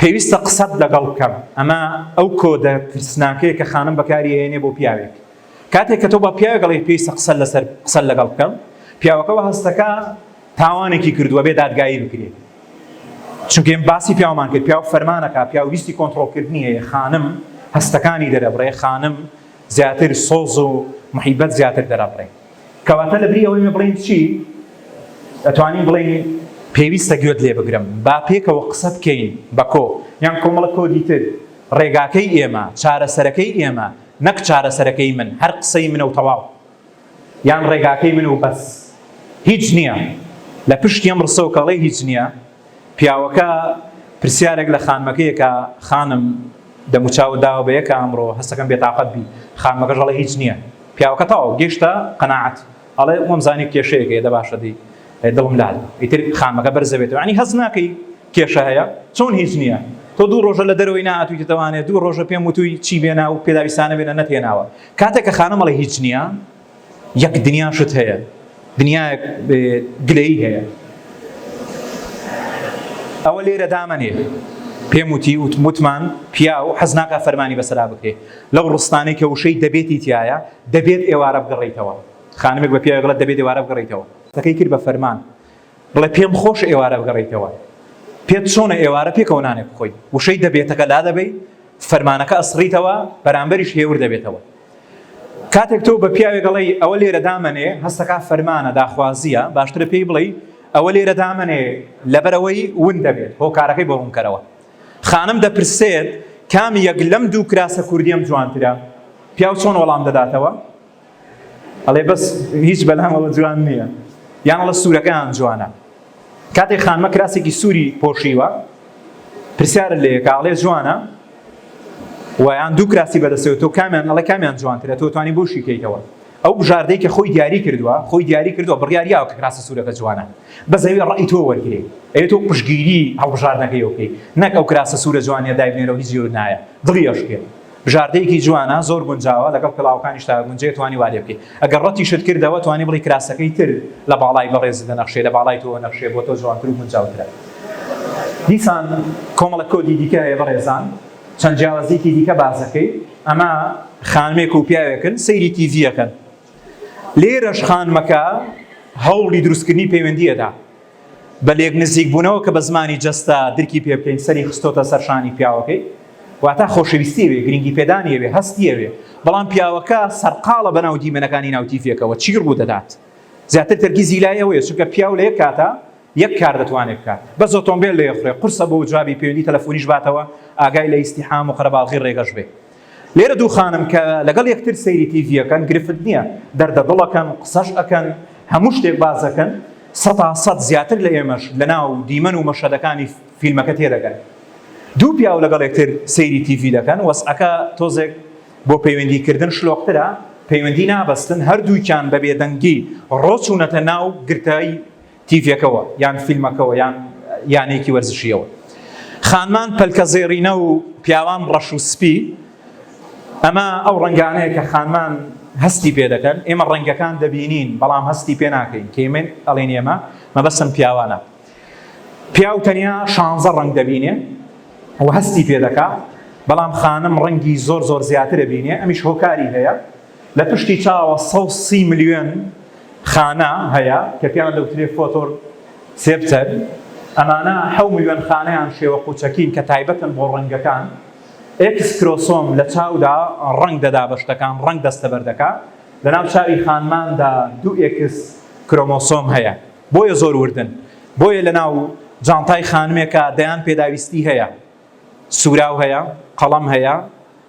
پێویستە قسەت لەگەڵ بکەم. ئەمە ئەو کۆدە ترسناکەیە کە خانم بەکاری ئەهێنێ بۆ پیاوێک. کاتێک کە تۆ بە پیاوێک ئەڵێیت پێویستە قسەت لەسەر قسەت لەگەڵ بکەم، پیاوەکە وە هەستەکا تاوانێکی کردووە بێ دادگایی بکرێ. چونکە ئێمە باسی پیاومان کرد، پیاو فەرمانەکا، پیاو ویستی کۆنترۆڵکردنی هەیە، خانم هەستەکانی دەرەبڕێ، خانم زیاتر سۆز و محیبەت زیاتر دەرەبڕێ. کەواتە لەبری ئەوەی من بڵێین چی ئەتوانین بڵێین پێویستە گوێت لێ بگرم با پێکەوە قسە بکەین بە کۆ یان کۆمەڵە کۆدی تر ڕێگاکەی ئێمە چارەسەرەکەی ئێمە نەک چارەسەرەکەی من هەر قسەی منە و تەواو یان ڕێگاکەی من و بەس هیچ نییە لە پشت یەم ڕسەوکەڵی هیچ نییە پیاوەکە پرسیارێک لە خانمەکەی ئەکا، خانم دەموچاوت داوە بە یەکا ئەمڕۆ؟ هەستەکەم بێتاقەت بی. خانمەکەش ئەڵێ هیچ نییە. پیاوەکە تەواو گەیشتە قەناعەت. ئەڵێ وەمزانی کێشەیەک هەیە، دە باشە دەی دڵم لات بوو. ئیتر خانمەکە بەرز دەبێتەوە. یانی هەست ناکەی کێشە هەیە؟ چۆن هیچ نییە؟ تۆ دوو ڕۆژە لە دەرەوەی نەهاتوویتەتەوە ئەنێ دوو ڕۆژە پێم وتووی چی بێنا و پێداویستانە بێنە، نەتهێناوە. کاتێک کە خانم ئەڵێ هیچ نییە. یەک دنیا شت هەیە دنیایەک گلەیی هەیە ئەوە لێرە دامەنێ پێم وتی وتمان پیا و حەز ناکە فەرمانی بەسرا بکرێ لەو ڕستانەی کە وشەی دەبێتی تایە دەبێت ئێوارە بگەڕیتەوە خانمێک بە پیاگڵە دەبێت ئێوارە بگەڕیتەوە تەکەی کرد بە فەرمان بڵێ پێم خۆش ئێوارە بگەڕیتەوە پێت چۆنە ئێوارە پێکەوە نانێک خۆی وشەی دەبێتەکە لا دەبی فەرمانەکە ئەسڕیتەوە بەرامبەریش هێور دەبێتەوە کاتێک تۆ بە پیاوێک ئەڵێی ئەوە لێرە دامەنێ هەستەکە فەرمانە داخوازیە باشترە پێی بڵێی ئەوە لێرە دامەنێ لەبەرەوەی ون دەبێت هۆکارەکەی بۆ ڕوونکەرەوە خانم دەپرسێت کام یەک لەم دوو کراسە کوردیم جوانترە پیاو چۆن وەڵام دەداتەوە ئەڵێ بەس هیچ بەلامەوە جوان نییە یانڵە سوورەکەیان جوانە کاتێک خانمە کراسێکی سووری پۆشیوە پرسیارت لێ کە ئەڵێ جوانە و یان دوو کراسی بەدەستەوە تۆ کامیان ئەڵێ کامیان جوانترە تۆ توانی بۆ شیکەیتەوە ئەو بژاردەی کە خۆی دیاری کردووە خۆی دیاری کردووە بڕیاریاوە کە کراسی سوورەکە جوانە بەزەوی ڕای تۆ وەرگێ ئەێ تۆ پشگیری هەڵبژاردنەکەی بکەیت نەک ئەو کراسە سوورە جوانە دایبنێرەوە هیچ جێور نایە دڵیشکێت بژاردەیەکی جوانە زۆر گونجاوە لەگەڵ پێڵاوەکانیشتا گونجەیە توانی وا لێ بکەی ئەگەر ڕەتیشت کردەوە توانی بڵی کراسەکەی تر لە باڵای بەڕێزت دەنەخشێ لە باڵای تۆوە نەخشێ بۆ تۆ جوانتر و گونجاوترە دیسان کۆمەڵە کۆدی دیکە هەیە بەڕێزان چەند جیاوازیکی دیکە بازەکەی ئەمە خانمێک و پیاوێکن سەیری تیڤیەکەن لێرەش خانمەکە هەوڵی دروستکردنی پەیوەندیەدا بە لێک نزیک بوونەوە کە بە زمانی جەستە درکی پێ بکەین سەری خستۆتە سەر شانی پیاوەکەی واتا خۆشەویستی ئەوێ گرنگی پێدانی ئەوێ هەستی ئەوێ بەڵام پیاوەکە سەرقاڵە بەناو دیمەنەکانی ناوتیفێکەوە چی ڕوو دەدات زیاتر تەرکیزی لای ئەوەیە چونکە پیاو لە یەک کاتە یەک کار دەتوانێت بکات بەس ئۆتۆمبیل لێ خوێ قورسە بۆ جوابی پەیوەندی تەلەفۆنیش باتەوە ئاگای لە ئیستیحام و قەرەباڵغی ڕێگەش بێ لێرە دوو خانم کە لەگەڵ یەکتر سەیری تیڤی ئەکەن گرفت نییە، دەردە دڵ ئەکەن، قسەش ئەکەن، هەموو شتێک باس ئەکەن، سەتا سەت زیاتر لە ئێمەش لەناو دیمەن و مەشهەدەکانی فیلمەکە تێدەگەن. دوو پیاو لەگەڵ یەکتر سەیری تیڤی دەکەن، وەزعەکە تۆزێک بۆ پەیوەندی کردن شلۆقترە، پەیوەندی نابەستن، هەردووکیان بە بێدەنگی ڕۆچوونەتە ناو گرتەی تیڤیەکەوە یان فیلمەکەوە یان یانەیەکی وەرزشیەوە خانمان پەلکە زێڕینە و پیاوان ڕەش و سپی ئەمە ئەو ڕنگانەیە کە خانمان هەستی پێ دەکەن ئێمە ڕەنگەکان دەبینین بەڵام هەستی پێ ناکەین کەمن ئەڵێن ئێمە مەبەسم پیاوانە پیاو تەنیا شانزە ڕنگ دەبینێ و هەستی پێ دەکات بەڵام خانم ڕەنگی زۆر زۆر زیاترە بینێ ئەمیش هۆکاری هەیە لە پشتی چاوە سەد و سی ملیۆن خانە هەیە کە پێیان دەوترێت فۆتۆر سێپتەر، ئەمانە حەو ملیۆن خانەیان شێوە قوچەکین کە تایبەتن بۆ ڕەنگەکان، ئێکس کرۆسۆم لە چاودا ڕەنگ دەدا بە شتەکان، ڕەنگ دەستەبەر دەکا، لەناو چاوی خانماندا دوو ئێکس کرۆمۆسۆم هەیە بۆیە زۆر وردن، بۆیە لەناو جانتای خانمێکا دەیان پێداویستی هەیە، سوراو هەیە، قەڵەم هەیە،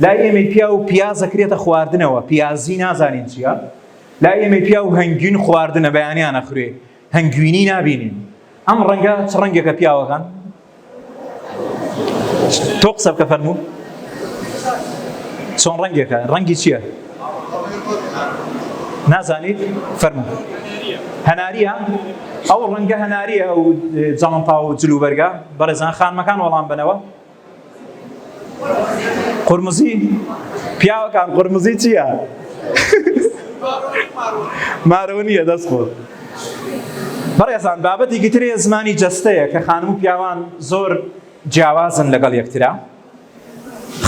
لای ئێمەی پیاو پیاز دەکرێتە خواردنەوە پیازی نازانین چییە لای ئێمەی پیاو هەنگوین خواردنە بەیانیانە خوێ هەنگوینی نابینین ئەم ڕەنگە چ ڕەنگێکە پیاوەکان تۆ قسە بکە فەرموو چۆن ڕەنگێکە ڕەنگی چییە نازانیت فەرموو هەناریە ئەو ڕەنگە هەناریە و جاڵمپا و جلوبەرگە بەڕێزان خانمەکان وەڵام بنەوە قورمزی پیاوەکان قورمزی چییە؟ مارەوە نییە دەست خۆ بەڕێزان بابەتی گترێ زمانی جەستەیە کە خانم و پیاوان زۆر جیاوازن لەگەڵ یەکترا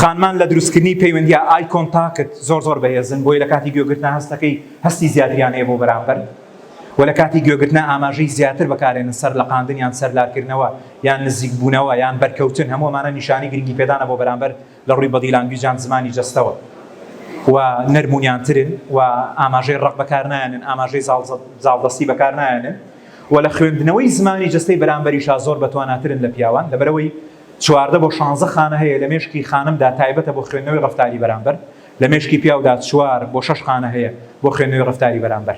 خانمان لە دروستکردنی پەیوەندیا ئای کۆنتاکت زۆر زۆر بەهێزن بۆی لە کاتی گوێگرتنا هەستەکەی هەستی زیاتریانەیە بۆ بەرامبەر و لە کاتی گوێگرتنا ئاماژەی زیاتر بەکارێنن سەر لە قاندنیان سەرلارکردنەوە یان نزیکبوونەوە یان بەرکەوتن، هەموو ئەمانە نیشانەی گرنگیپێدانە بۆ بەرامبەر لە ڕووی بەدی لانگویج یان زمانی جەستەوە و نەرم و نیانترن و ئاماژەی ڕق بەکارنایەنن، ئاماژەی زاڵدەستی بەکارنایەنن و لە خوێندنەوەی زمانی جەستەی بەرامبەریشا زۆر بەتواناترن لە پیاوان، لەبەرئەوەی چواردە بۆ شانزە خانە هەیە لە مێشکی خانمدا تایبەتە بۆ خوێندنەوەی ڕەفتاری بەرامبەر، لە مێشکی پیاودا چوار بۆ شەش خانە هەیە بۆ خوێندنەوەی ڕەفتاری بەرامبەر.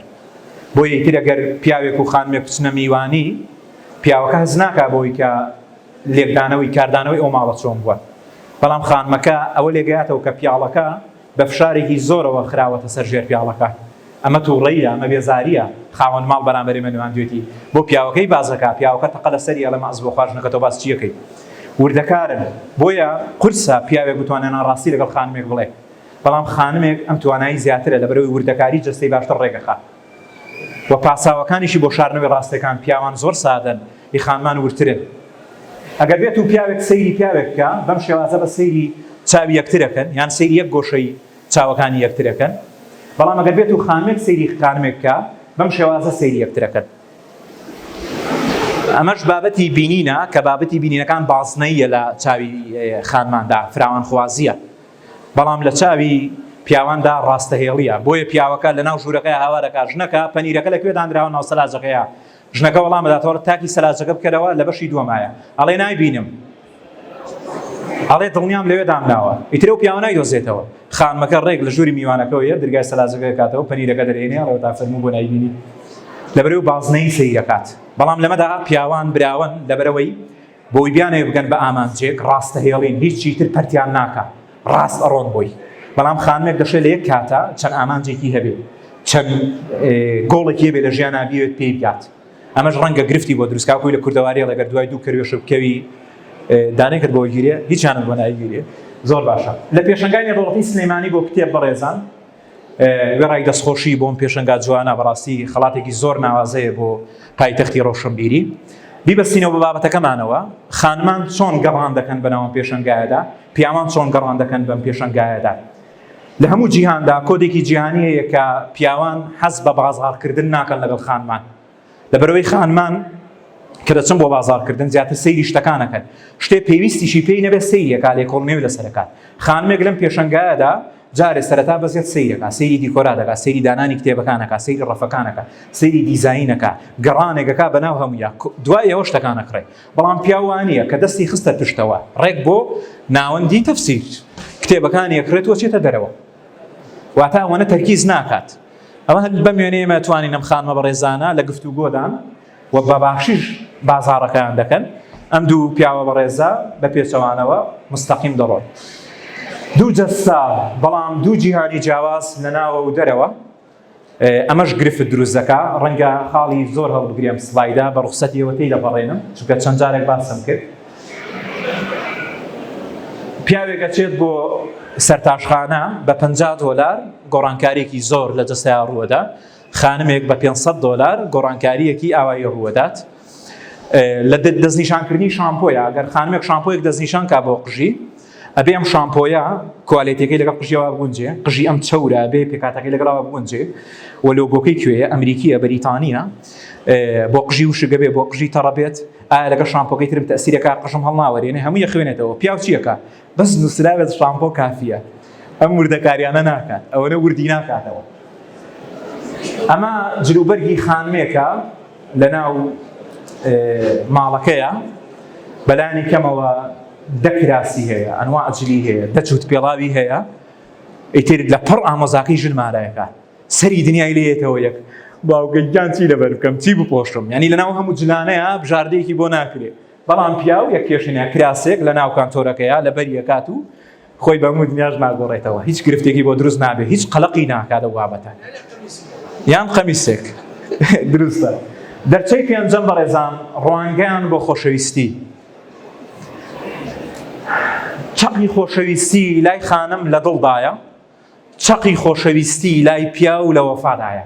بۆیە ئیتر ئەگەر پیاوێک و خانمێک بچنە میوانی، پیاوەکە هەست ناکا بەوەی کە لێکدانەوەی کاردانەوەی ئەو ماڵە چۆن بووە، بەڵام خانمەکە ئەوە لێگەیاتەوە کە پیاڵەکە بە فشارێکی زۆرەوە خراوەتە سەر ژێر پیاڵەکە. ئەمە توڕەییە، ئەمە بێزارییە، خاوەن ماڵ بەرامبەر ئێمە نواندوێتی، بۆ پیاوەکەی باس دەکا، پیاوەکە تەقە لە سەری ئەڵێ مەعز بۆ خواژنەکە تۆ باس چی ئەکەی؟ وردەکارن، بۆیە قورسە پیاوێک بتوانێ ناڕاستی لەگەڵ خانمێک بڵێ، بەڵام خانمێک ئەم توانایی زیاترە لەبەرئەوەی وردەکاری جەستەی باشتر ڕێک ئەخا. وە پاساوەکانیشی بۆ شارنەوەی ڕاستەکان پیاوان زۆر سادەن ی خانمان وردترن ئەگەر بێتو پیاوێک سەیری پیاوێک بکا بەم شێوازە بە سەیری چاوی یەکترەکەن یان سەیری یەک گۆشەی چاوەکانی یەکترەکەن بەڵام ئەگەر بێتو خانمێک سەیری خانمێک بکا بەم شێوازە سەیری یەکترەکەن ئەمەش بابەتی بینینە کە بابەتی بینینەکان بازنەییە لە چاوی خانماندا فراوانخوازیە بەڵام لە چاوی پیاواندا ڕاستەهێڵیە بۆیە پیاوەکە لە ناو ژوورەکەی هاوارەکە ژنەکە پەنیرەکە لەکوێ دانراوە ناو سەلاجەکەیە ژنەکە وەڵام داتەوە تاکی سەلاجەکە بکەرەوە لە بەشی دووەمایە ئەڵێ نایبینم ئەڵێ دڵنیام لەوێ دامناوە ئیترە و پیاوە نایدۆزێتەوە خانمەکە ڕێک لە ژووری میوانەکەەوە یە درگای سەلاجەکە کاتەوە پەنیرەکە دەرێنێ ڕێ تا فەرمو بۆ نایبینی لەبەرەوە بازنەی سەیرەکات بەڵام لەمەدا پیاوان براون لەبەرەوەی بۆی بیانەوێ بگەن بە ئامانجێک ڕاستەهێڵین هیچی تر پەرتیان ناکا ڕاست ئەڕۆن بۆی بەڵام خانمێک دەشێ لە یەک کاتا چەند ئامانجێکی هەبێ چەند گۆڵێکی هەبێ لە ژیانا بیوێت پێی بگات ئەمەش ڕەنگە گرفتی بۆ دروستکا خۆی لە کوردەواری ڕێگەر دوای دوو کەروێش بکەوی دانێکرد بۆ گیرێ هیچیانم بۆ ناگیرێ زۆر باشە لە پێشنگانی ڕۆڵی سلەیمانی بۆ کتێب بەڕێزان وێڕای دەستخۆشی بۆم پێشەنگا جوانە بەڕاستی خەڵاتێکی زۆر ناوازەیە بۆ پایتەختی ڕۆشنبیری بیبەستینەوە بە بابەتەکەمانەوە خانمان چۆن گەڕان دەکەن بەناوم پێشنگایەدا پیاوان چۆن گەڕان دەکەن بەم پێشنگایەدا لە هەموو جیهاندا کۆدێکی جیهانیەیە کە پیاوان حەز بە بازاڕکردن ناکەن لەگەڵ خانمان لەبەرەوەی خانمان کە دەچن بۆ بازارکردن زیاتر سەیری شتەکانەکەن شتێ پێویستیشی پێی نەبێت سەیرێکا لێ کۆڵنێو لەسەرەکات خانمێک لەم پێشنگایەدا جارێ سەرەتا بەزێت سیرەکە سری دیکۆرا دەکات سری دانانی کتێبەکانەکە سری ڕەفەکانەکە سری دیزینەکە گەڕانێکەکە بەناو هەموویە دوای ئەوە شتەکانە کڕێ بەڵام پیاوانە کە دەستی خستە پشتەوە ڕێک بۆ ناوەندی تەفسیر کتێبەکانی یەکرێت وەچێتە دەرەوە واتە ئەوەنە تەرکیز ناکات ئەوە هەر بەم وێنەیەمە توانین ئەم خانمە بەڕێزانە لە گفت و گۆدان و بە باشیش بازاڕەکەیان دەکەن ئەم دوو پیاوە بەڕێزە بە پێچەوانەوە مستەقیم دەڕۆن دوو جەستا بەڵام دوو جیهانی جیاواز لە ناوە و دەرەوە ئەمەش گرفت دروست دەکا ڕەنگە خاڵی زۆر هەڵبگرێم سلایدا بە ڕوخسەتی ئێوە تێی دەپەڕێنم چونکە چەند جارێک باسم کرد پیاوێک ئەچێت بۆ سەرتاشخانە بە 50 دلار گۆڕانکارێکی زۆر لە جەستەیا ڕووەدا خانمێک بە 500 دلار گۆڕانکاریەکی ئاوایی ڕووەدات لە دەستنیشانکردنی شامپۆیە گەر خانمێک شامپۆیەک دەستنیشان کا بۆ قژی ئەبێ ئەم شامپۆیە کوالێتەکەی لەگەڵ قژیەوە بگونجێ قژی ئەم چەورە بێ پێکاتەکەی لەگەڵاوە بگونجێ و لۆگۆکەی کوێیە ئەمریکیە بەریتانیە بۆ قژی وشگە بێ بۆ قژی تەڕەبێت ئایا لەگە شامپۆکەی ترم تەسیرەکە قژم هەڵناوەێنێ هەموو یە خوێنێتەوە پیاوچیەکە بەس نوسرابێت شامپۆ کافیە ئەم وردەکاریانە ناکات ئەوەنە وردی ناکاتەوە ئەمە جلوبەرگی خانمێکە لەناو ماڵەکەیە بەلانی کەمەوە دەکراسی هەیە ئەنوا ئەجلی هەیە دەچوت پێڵاوی هەیە ئیتر لە پڕ ئامۆزاکەی ژنمارایەکە سەری دنیای لێتەوە یەک باوگەگیان چی لەبەر بکەم چی بپۆشم ینی لەناو هەموو جلانەیە بژاردەیەکی بۆ ناکرێت بەڵام پیاو یەک پێشینە کراسێک لە ناو کانتۆرەکەیە لە بەری ئەکات و خۆی بە هەموو دنیاش ناگۆڕێتەوە هیچ گرفتێکی بۆ دروست نابێت هیچ قەلەقی ناکات لەو بابەتە یان قەمیسێک دروستە دەرچەی پێنجەم بەڕێزان ڕوانگەیان بۆ خۆشەویستی چەقی خۆشەویستی لای خانم لە دڵدایە چەقی خۆشەویستی لای پیاو لە وەفادایە.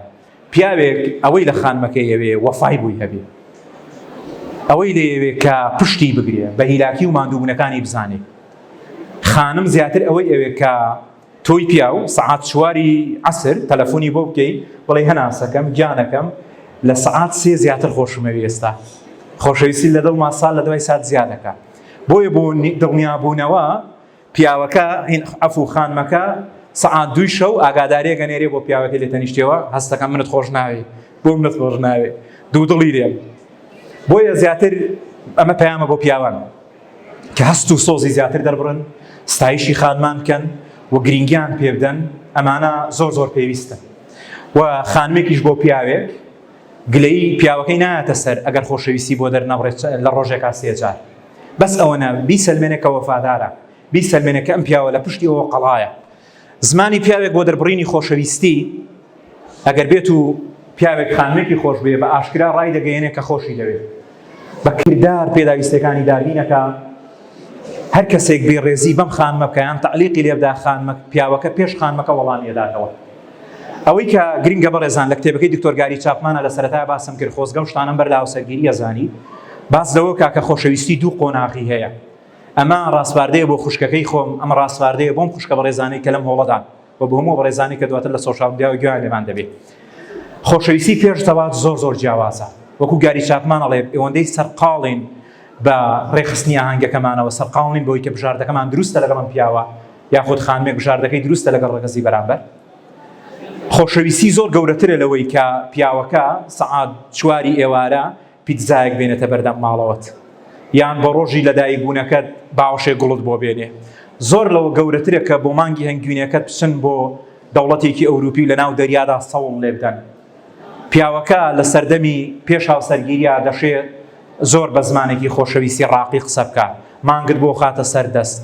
پیاوێک ئەوەی لە خانمەکەی ئەوێ وەفای بۆی هەبێ. ئەوەی لێیەوێ کە پشتی بگرێ، بە هیلاکی و ماندووبوونەکانی بزانێ. خانم زیاتر ئەوەی ئەوێ کە تۆی پیاو سەعات چواری عەسر تەلەفۆنی بۆ بکەی بڵێی هەناسەکەم، گیانەکەم لە سەعات سێ زیاتر خۆشمەوێ ئێستا. خۆشەویستی لە دڵما سات لە دوای سات زیا دەکا. بۆیە بۆ دڵنیابوونەوە، پیاوەکە هین عەفو خانمەکە سەعات دووی شەو ئاگاداریەکە نێرێ بۆ پیاوەکە لێ تەنیشتەوە هەستەکە منت خۆش ناوێ بۆ منت خۆش ناوێ دوو دڵی لێ بۆیە زیاتر ئەمە پەیامە بۆ پیاوان کە هەست و سۆزی زیاتر دەربڕن ستایشی خانمان بکەن و گرنگیان پێ بدەن ئەمانە زۆر زۆر پێویستە و خانمێکیش بۆ پیاوێک گلەی پیاوەکەی نایەتە سەر ئەگەر خۆشەویستی بۆ دەرنەبڕێت لە ڕۆژێکا سێجار بەس ئەوەنە بیسەلمێنە کە وەفادارە، بیسەلمێنە کە ئەم پیاوە لە پشتی ئەوە قەڵایە. زمانی پیاوێک بۆ دەربڕینی خۆشەویستی، ئەگەر بێت و پیاوێک خانمێکی خۆش بوێ، بە ئاشکرا ڕایدەگەیەنێ کە خۆشی دەوێ. بە کردار پێداویستییەکانی دابین ئەکا. هەر کەسێک بێڕێزی بەم خانمە بکا یان تەعلیقی لێ بدا، خانمە، پیاوەکە پێش خانمەکە وەڵامی ئەداتەوە. ئەوەی کە گرنگە بەڕێزان لە کتێبەکەی دکتۆر گاری چاپمانە لە سەرەتای باسم کرد خۆزگە و شتانەم بەر لە هاوسەرگیریە زانی باس لەوە کا کە خۆشەویستی دوو قۆناغی هەیە ئەمە ڕاسپاردەیە بۆ خوشکەکەی خۆم ئەمە ڕاسپاردەیە بۆم خوشکە بەڕێزانەی کە لەم هۆڵەدان و بۆ هەموو بەڕێزانی کە دواتر لە سۆشال میدیا و گویان لێمان دەبێت خۆشەویستی پێش زەواج زۆر زۆر جیاوازە وەکو گاری چاپمان ئەڵێ ئەوەندەی سەرقاڵین بە ڕێخستنی ئاهەنگەکەمانەوە سەرقاڵین بۆی کە بژاردەکەمان دروستە لەگەڵم پیاوە یاخود خانمێک بژاردەکەی دروستە لەگەڵ ڕەگەزی بەرامبەر؟ خۆشەویستی زۆر گەورەترە لەوەی کە پیاوەکە سەعات چواری ئێوارە پیتزایەک بێنێتە بەردەم ماڵەوەت یان بۆ ڕۆژی لەدایکبوونەکەت باوەشێ گوڵت بۆ بێنێ زۆر لەوە گەورەترە کە بۆ مانگی هەنگوینەکەت بچن بۆ دەوڵەتێکی ئەوروپی لە ناو دەریادا سەوڵ لێبدەن پیاوەکە لە سەردەمی پێش هاوسەرگیرییە دەشێ زۆر بە زمانێکی خۆشەویستی ڕاقی قسە بکا، مانگت بۆ خاتە سەر دەست،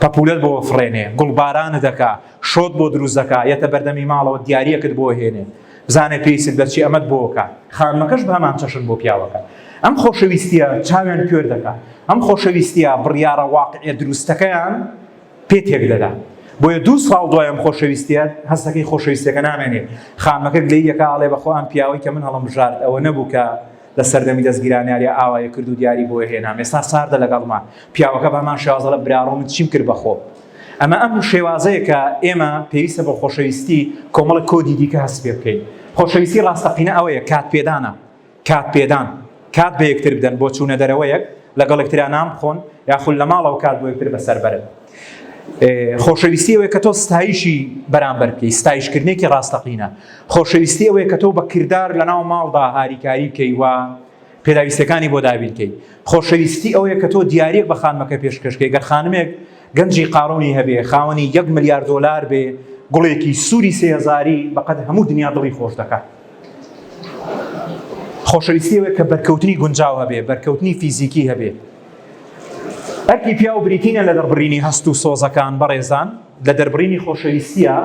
پەپوولەت بۆ ئەفڕێنێ، گوڵبارانت ئەکا، شۆت بۆ دروست دەکا، یەتە بەردەمی ماڵەوە دیارییەکت بۆ ئەهێنێ، بزانێ پێیست بە چی ئەمەت بۆ ئەکا. خانمەکەش بە هەمان چەشن بۆ پیاوەکە ئەم خۆشەویستییە چاویان کوێر دەکا، ئەم خۆشەویستییە بڕیارە واقعییە دروستەکەیان، پێ تێکدەدا. بۆیە دوو ساڵ دوای ئەم خۆشەویستییە، هەستەکەی خۆشەویستییەکە نامێنێ. خانمەکە گلەیی ئەکا، ئەڵێ بەخوا ئەم پیاوەی کە من هەڵمبژارد ئەوە نەبوو کە لە سەردەمی دەزگیرانیاریا ئاوای کرد و دیاری بۆ هێنام. ئێستا ساردە لەگەڵما. پیاوەکە بە هەمان شێواز ئەڵێ براڕۆ من چیم کرد بە خۆم. ئەمە ئەم شێوازەیە کە ئێمە پێویستە بۆ خۆشەویستی کۆمەڵێک کۆدی دیکە هەست پێ بکەین. خۆشەویستی ڕاستەقینە ئەوەیە، کاتپێدانە. کات پێدان، کات بە یەکتر بدەن بۆ چوونە دەرەوەیەک، لەگەڵ یەکترا نان بخۆن، یاخود لە ماڵەوە کات بۆ یەکتر بەسەر بەرن. خۆشەویستی ئەوەیە کە تۆ ستایشی بەرامبەر بکەیت، ستایشکردنێکی ڕاستەقینە. خۆشەویستی ئەوەیە کە تۆ بە کردار لەناو ماڵدا هاریکاری بکەیت و پێداویستییەکانی بۆ دابین بکەیت. خۆشەویستی ئەوەیە کە تۆ دیارییەک بە خانمەکە پێشکەش بکەیت، گەر خانمێک گەنجی قارونی هەبێت، خاوەنی یەک ملیار دۆلار بێت، گوڵێکی سووری سێ هەزاری بەقەد هەموو دنیا دڵی خۆش دەکات. خۆشەویستی ئەوەیە کە بەرکەوتنی گونجاو هەبێ بەرکەوتنی فیزیکی هەبێ ئەرکی پیاو بریتینە لە دەربڕینی هەست و سۆزەکان بەڕێزان لە دەربڕینی خۆشەویستیە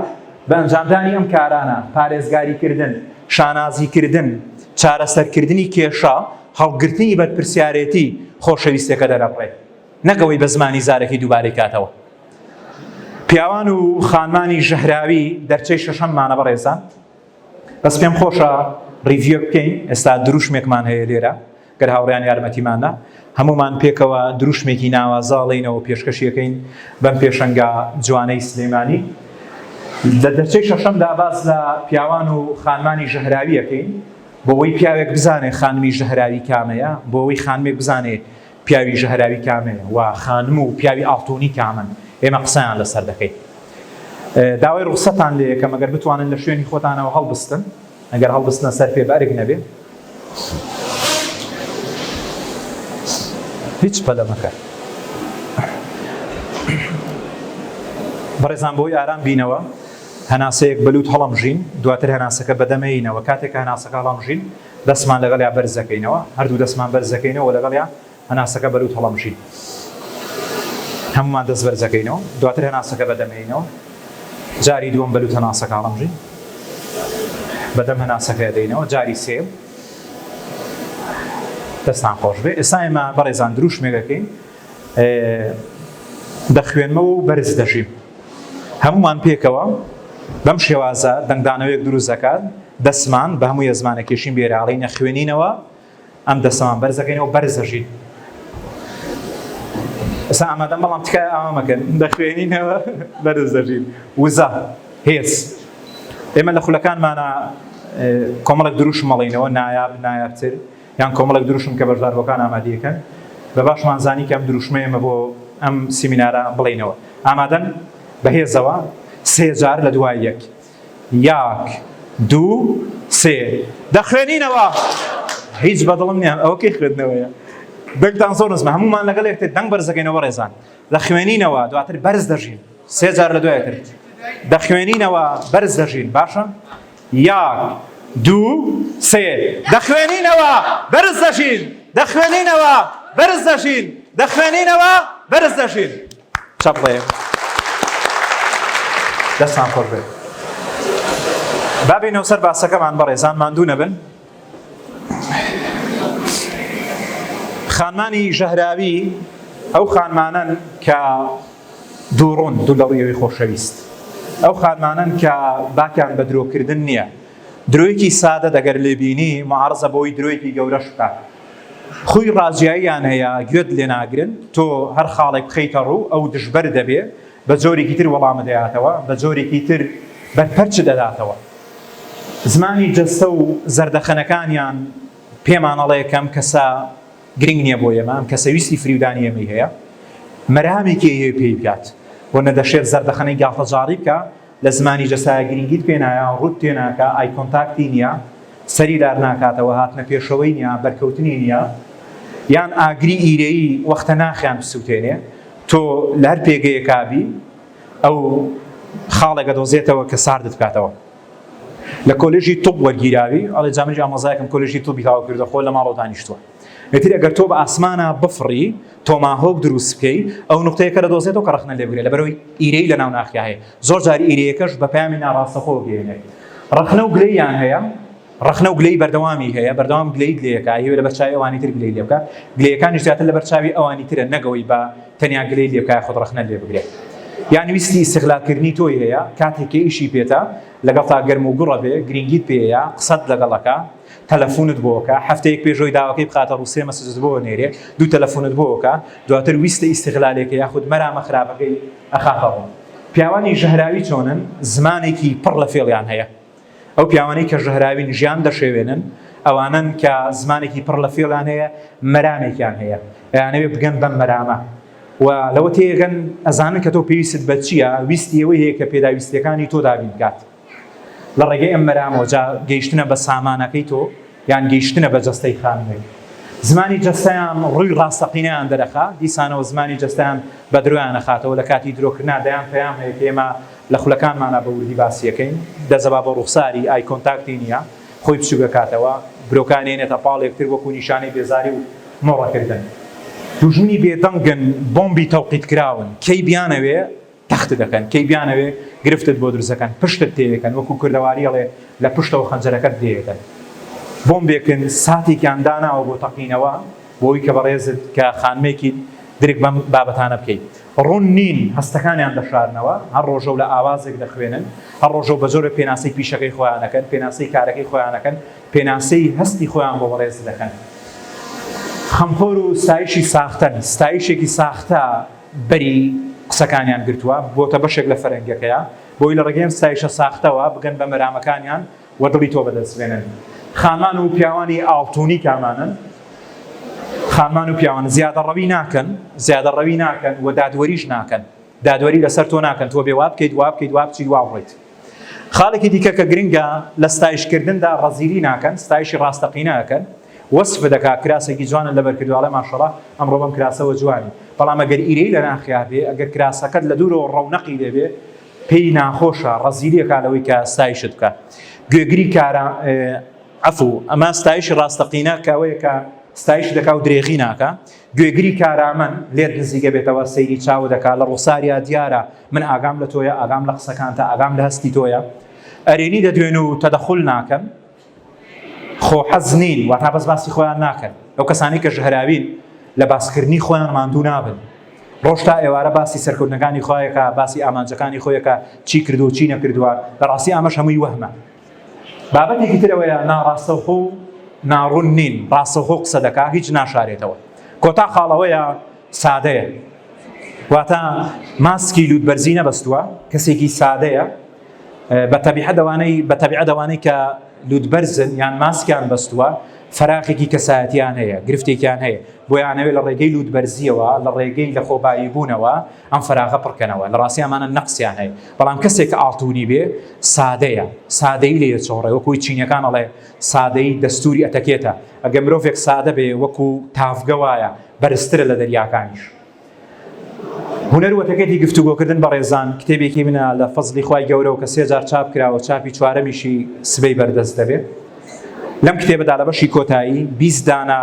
بە ئەنجامدانی ئەم کارانە پارێزگاریکردن شانازیکردن چارەسەرکردنی کێشە هەڵگرتنی بەرپرسیارەتی خۆشەویستەکە دەرەبڕێت نەکەوەی بە زمانی زارەکی دووبارەی کاتەوە پیاوان و خانمانی ژەهراوی دەرچەی شەشەممانە بەڕێزان بەس پێم خۆشە ڕیڤیوێک بکەین ئێستا دروشمێکمان هەیە لێرە گەر هاوڕیان یارمەتیماندا هەمومان پێکەوە دروشمێکی ناوازە ڵێینەوە پێشکەشیەکەین بەم پێشەنگا جوانەی سلێمانی لە دەرچەی شەشەمدا باس لە پیاوان و خانمانی ژەهراویەکەین بۆەوەی پیاوێک بزانێ خانمی ژەهراوی کامەیە بۆەوەی خانمێک بزانێ پیاوی ژەهراوی کامەیە و خانم و پیاوی ئاڵتونی کامەن ئێمە قسەیان لەسەر دەکەین. داوای ڕوخسەتتان لێەکەم ئەگەر بتوانن لە شوێنی خۆتانەوە هەڵبستن ئەگەر هەڵبستنە سەر پێ بەئەرک نەبێ. هیچ پەلە مەکە. بەڕێزان بۆی ئارام بینەوە هەناسەیەک بەلوت هەڵەمژین دواتر هەناسەکە بەدەمێینەوە کاتێک هەناسەکە هەڵەمژین. دەستمان لەگەڵیا بەرز دەکەینەوە، هەردوو دەستمان بەرز دەکەینەوە و لەگەڵیا هەناسەکە بەلووت هەڵەمژین. هەموومان دەست بەرز دەکەینەوە، دواتر هەناسەکە بەدەمێینەوە، جاری دووەم بەلووت هەناسەکە هەڵەمژین، بەدەم هەناسەکە دێینەوە، جاری سێیەم. دەستان خۆشبێ. ئێستا ئێمە بەڕێزان دروشمێک ئەکەین، دەخوێنمەوە و بەرز دەژیم. هەموومان پێکەوە بەم شێوازە دەنگدانەوەیەک دروست دەکات، دەستمان بە هەموو یەزمانە کێشین بێراڵین ئەخوێنینەوە، ئەم دەستەمان بەرز دەکەینەوە، بەرز دەژین. ئێستا ئامادەم بەڵام تکایە ئاوا مەکەن، دەخوێنینەوە بەرز دەژین. وزە، هێز. ئێمە لە خولەکانمانە کۆمەڵێک دروشم ئەڵێینەوە، نایاب، نایابتر. یان کۆمەڵێک دروشم کە بەشداربووەکان ئامادەیەکەن، بە باشمان زانی کە ئەم دروشمە ئێمە بۆ ئەم سیمینارە بڵێینەوە. ئامادەن؟ بە هێزەوە سێ جار لە دوای یەک، یاک، دوو، سێ. دەخوێنینەوە! هیچ بە دڵم نییە، ئەوە کەی خوێندنەوەیە؟ دەنگتان زۆر نزمە، هەموومان لەگەڵ یەکتر دەنگ بەرز دەکەینەوە بەڕێزان. دەخوێنینەوە، دواتر بەرز دەژین. سێ جار لە دوای یەکتر. دەخوێنینەوە، بەرز دەژین. باشە. یەک، دوو، سێ. دەخوێنینەوە، بەرز دەژین. دەخوێنینەوە، بەرز دەژین. دەخوێنینەوە، بەرز دەژین. چەپڵەیەک. دەستان خۆش بێت. بابی نەوسەر باسەکەمان بەڕێزان ماندوو نەبن. خانمانی ژەهراوی ئەو خانمانەن کە دووڕۆن دوو لەڕویەوەی خۆشەویست ئەو خانمانەن کە باکیان بە درۆکردن نییە درۆیەکی سادە دەگەر لێبینی معارزە بۆی درۆیەکی گەورەش بکە خوی ڕاجاییان هەیە گوێت لێ ناگرن تۆ هەر خاڵێک بخیتە ڕوو ئەو دژبەر دەبێ بە جۆرێکی تر وەڵامە دەیاتەوە بە جۆرێکی تر بەرپەرچ دەداتەوە زمانی جەستە و زەردەخەنەکانیان پێمان ئەڵێ کە ئەم کەسە گرنگ نییە بۆ ئێمە، ئەم کەسە ویستی فریودانی ئێمەی هەیە، مەرامێکی هەیە پێی بگات و نەدەشێت زەردەخەنەی گاڵتەجاڕی بکا، لە زمانی جەستەیا گرنگیت پێ نایە، ڕووت تێ ناکا، ئای کۆنتاکتی نییە، سەری لار ناکاتەوە، هاتنە پێشەوەی نییە، بەرکەوتنی نییە، یان ئاگری ئیرەیی وەختە ناخیان بسووتێنێ، تۆ لە هەر پێگەیەکا بی، ئەو خاڵێک ئەدۆزێتەوە کە ساردت بکاتەوە. لە کۆلێژی طب وەرگیراوی، ئەڵێ جا منیش ئامۆزایەکم کۆلێژی طبی تەواو کردووە خۆ لە ماڵەوە دانیشتووە. ئیتر ئەگەر تۆ بە ئاسمانا بفڕی، تۆماهۆک دروست بکەی، ئەو نوقتەیەکە دەدۆزێتەوە کە ڕەخنە لێبگرێ، لەبەرئەوەی ئیرەی لەناو ناخیا هەیە. زۆر جار ئیرەیەکەش بە پەیامی ناڕاستەخۆ بگەیەنێت. ڕەخنە و گلەییان هەیە، ڕەخنە و گلەی بەردەوامی هەیە بەردەوام گلەیت لێکە هیوێ لەبەر چاوی ئەوانی تر گلەی لێبکە گلەیەکانی زیاتر لەبەر چاوی ئەوانی ترە نەگەوەی بە تەنیا گلەی لێبکە خۆت ڕەخنە لێ بگرێت یان ویستی ئیستغلالکردنی تۆی هەیە کاتێک کە ئیشی پێتە لەگەڵ تا گەرم و گوڕە بێ گرنگیت پێەیە قسەت لەگەڵەکە تەلەفونت بۆکە هەفتەیەک پێشۆی داواکەی بخاتە ڕوسێ مەسجت بۆ نێرێ دوو تەلەفونت بۆکە دواتر ویستە ئیستغلالێکە یاخود مەرامە خراپەکەی ئەخافەڕۆ پیاوانی ژەهراوی چۆنن زمانێکی پڕ لە فێڵیان هەیە ئەو پیاوانەی کە ژەهراوین ژیان دەشێوێنن، ئەوانەن کە زمانێکی پڕ لە فێڵیان هەیە، مەرامێکیان هەیە، ئەیانەوێ بگەن بەم مەرامە و لەوە تێگەن، ئەزانن کە تۆ پێویستت بە چییە، ویستی ئەوەی هەیە کە پێداویستییەکانی تۆ دابین بکات لە ڕێگەی ئەم مەرامەوە، جا گەیشتنە بە سامانەکەی تۆ، یان گەیشتنە بە جەستەی خانووی زمانی جەستەیان ڕووی ڕاستەقینەیان دەرەخا، دیسانەوە زمانی جەستەیان بە درۆیان ئەخاتەوە، لە کاتی درۆکردنا دەیان پەیام هەیە کە ئێمە لە خولەکانمانا بە وردی باسی ئەکەین، دەزەبا بە ڕوخساری، ئای کۆنتاکتی نییە، خۆی بچووک ئەکاتەوە، برۆکانی ئەنێتە پاڵ یەکتر وەکوو نیشانەی بێزاری و مۆڕەکردن. دوژمنی بێدەنگن، بۆمبی تەوقیتکراون، کەی بیانەوێ، تەختت دەکەن کەی بیانەوێ گرفتت بۆ دروست دەکەن پشتت تێیەکەن وەکو کوردەواری ئەڵێ لە پشتەوە خەنجەرەکەت لێیەکەن بۆمبێکن ساتێکیان داناوە بۆ تەقینەوە بۆی کە بەڕێزت کە خانمێکیت درک بەم بابەتانە بکەی ڕوون نین هەستەکانیان دەشارنەوە هەر ڕۆژەو لە ئاوازێک دەخوێنن هەر ڕۆژەو بە جۆرە پێناسەی پیشەکەی خۆیانەکەن پێناسەی کارەکەی خۆیانەکەن پێناسەی هەستی خۆیان بۆ بەڕێزت دەکەن خەمخۆر و ستایشی ساختەن ستایشێکی ساختە بەری قسەکانیان گرتووە بۆتە بەشێک لە فەرهەنگەکەیا بۆی لە ڕێگەی ئەم ستایشە ساختەوە بگەن بە مەرامەکانیان و دڵی تۆ بەدەست بێنن خانمان و پیاوانی ئاڵتونی کامانن خانمان و پیاوان زیادە ڕەوی ناکەن زیادە ڕەوی ناکەن و دادوەریش ناکەن دادوەری لەسەر تۆ ناکەن تۆ بێ وابکەیت وابکەیت وابچیت واڕۆیت خاڵێکی دیکە کە گرنگە لە ستایشکردندا ڕەزیلی ناکەن ستایشی ڕاستەقینە ئەکەن وەسف دەکا کراسێکی جوانت لەبەر کردووە ئەڵێ ماشەڵا ئەمڕۆ بەم کراسەوە جوانی بەڵام ئەگەر ئیرەی لە ناخیا بێ ئەگەر کراسەکەت لە دوورەوە ڕەونەقی لێ بێ پێی ناخۆشە ڕەزیلەکە لەوەی کە ستایشت بکە گوێگری کارە عفو ئەمە ستایشی ڕاستەقینە کە ئەوەیە کە ستایش دەکا و درێغی ناکە گوێگری کارامەن لێت نزیکە بێتەوە سەیری چاوە دەکا لە ڕوخساریا دیارە من ئاگام لە تۆیە ئاگام لە قسەکانتە ئاگام لە هەستی تۆیە ئەرێنی دەدوێن و تەدەخل ناکەن خۆ حەز نین واتا بەس باسی خۆیان ناکەن ئەو کەسانی کە ژهراوین لە باسکردنی خۆیان ماندوو نابن ڕۆژ تا ئێوارە باسی سەرکردنەکانی خۆیەکە باسی ئامانجەکانی خۆیەکە چی کردو چی نەکردووە لە ڕاستی ئامەش هەمووی وەهمە بابەتێکی تر ئەوەیە ناڕاستەوخۆ و ناڕوون نین، ڕاستەوخۆ قسە دەکا هیچ ناشارێتەوە. کۆتا خاڵ ئەوەیە سادەیە. واتە ماسکی لووتبەرزی نەبەستووە، کەسێکی سادەیە، بە تەبیعەت ئەوانەی بە تەبیعەت ئەوانەی کە لووتبەرزن یان ماسکیان بەستووە، فەراغێکی کەسایەتییان هەیە، گرفتێکیان هەیە، بۆیە ئەیانەوێت لە ڕێگەی لووتبەرزییەوە، لە ڕێگەی لەخۆبایی بوونەوە، ئەم فەراغە پڕ کەنەوە، لە ڕاستی ئەمانە نەقسیان هەیە، بەڵام کەسێک کە ئاڵتوونی بێ سادەیە، سادەیی لێ دەچۆڕێ، وەکوو چینیەکان ئەڵێ سادەیی دەستووری ئەتەکێتە، ئەگەر مرۆڤێک سادە بێ وەکوو تاڤگە وایە بەرزترە لە دەریاکانیش. هونەر و ئەتەکێتی گفتوگۆ کردن بەڕێزان کتێبێکی منە لە فەزڵی خوای گەورەوە کە سێ جار چاپ کراوە چاپی چوارەمیشی سبەی بەردەست دەبێ لەم کتێبەدا لە بەشی کۆتایی بیست دانە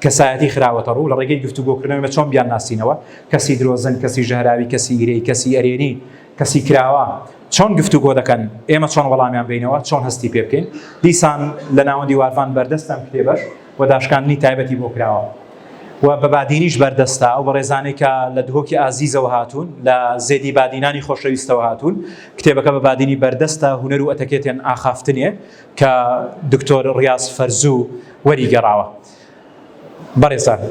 کەسایەتی خراوەتەڕوو لە ڕێگەی گفتوگۆکردنەوە ئێمە چۆن بیانناسینەوە، کەسی درۆزن، کەسی ژەهراوی، کەسی گرێی، کەسی ئەرێنی، کەسی کراوە چۆن گفتوگۆ دەکەن، ئێمە چۆن وەڵامیان بەینەوە، چۆن هەستی پێ بکەین، دیسان لە ناوەندی وارڤان بەردەستە ئەم کتێبەش و داشکاندنی تایبەتی بۆ کراوە و بە بادینیش بەردەستە، ئەو بەڕێزانەی کە لە دهۆکی ئازیزەوە هاتوون، لە زێدی بادینانی خۆشەویستەوە هاتوون، کتێبەکە بە بادینی بەردەستە، هونەر و ئەتەکێتێن ئاخافتنێ، کە دکتۆر ڕیاز فەرزوو وەری گەڕاوە. بەڕێزان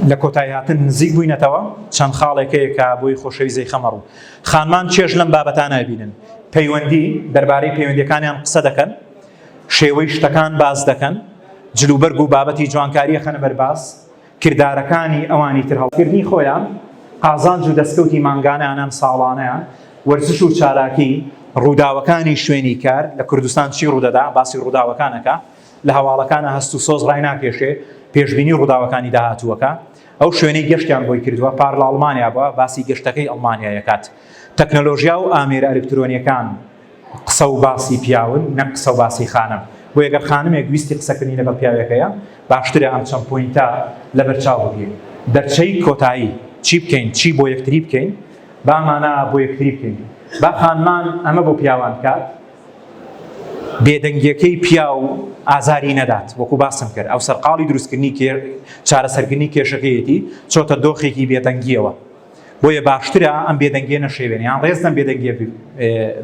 لە کۆتای هاتن نزیک بووینەتەوە، چەند خاڵێک هەیە کە بۆی خۆشەویست دەیخەمە ڕوو. خانمان چێژ لەم بابەتانە ئەبینن، پەیوەندی، دەربارەی پەیوەندیەکانیان قسە دەکەن، شێوەی شتەکان باس دەکەن، جلوبەرگ و بابەتی جوانکاری ئەخەنە بەر باس، کردارەکانی ئەوانی تر هەڵکردنی خۆیان، قازانج و دەستکەوتی مانگانەیان یان ساڵانەیان، وەرزش و چالاکی، ڕووداوەکانی شوێنی کار، لە کوردستان چی ڕوودەدا، باسی ڕووداوەکان ئەکا، لە هەواڵەکانا هەست و سۆز ڕایناکێشێ، پێشبینی ڕووداوەکانی داهاتوو ئەکا، ئەو شوێنەی گەشتیان بۆی کردووە، پار لە ئەڵمانیا بووە، باسی گەشتەکەی ئەڵمانیای ئەکات، تەکنەلۆژیا و ئامێرە ئەلکترۆنییەکان، قسە و باسی پیاون نەک قسە و باسی خانم بۆیە گەر خانمێک ویستی قسەکردنی لەگەڵ پیاوێک هەیە باشترە ئەم چەند پۆینتە لەبەرچاو بگرین دەرچەی کۆتایی چی بکەین چی بۆ یەکتری بکەین با ئەمانە بۆ یەکتری بکەین با خانمان ئەمە بۆ پیاوان بکات بێدەنگیەکەی پیاو ئازاری نەدات وەکو باسم کرد ئەو سەرقاڵی دروستکردنی چارەسەرکردنی کێشەکەیەتی چۆتە دۆخێکی بێدەنگیەوە بۆیە باشترە ئەم بێدەنگیە نەشێوێن یان ڕێز لەم بێدەنگیە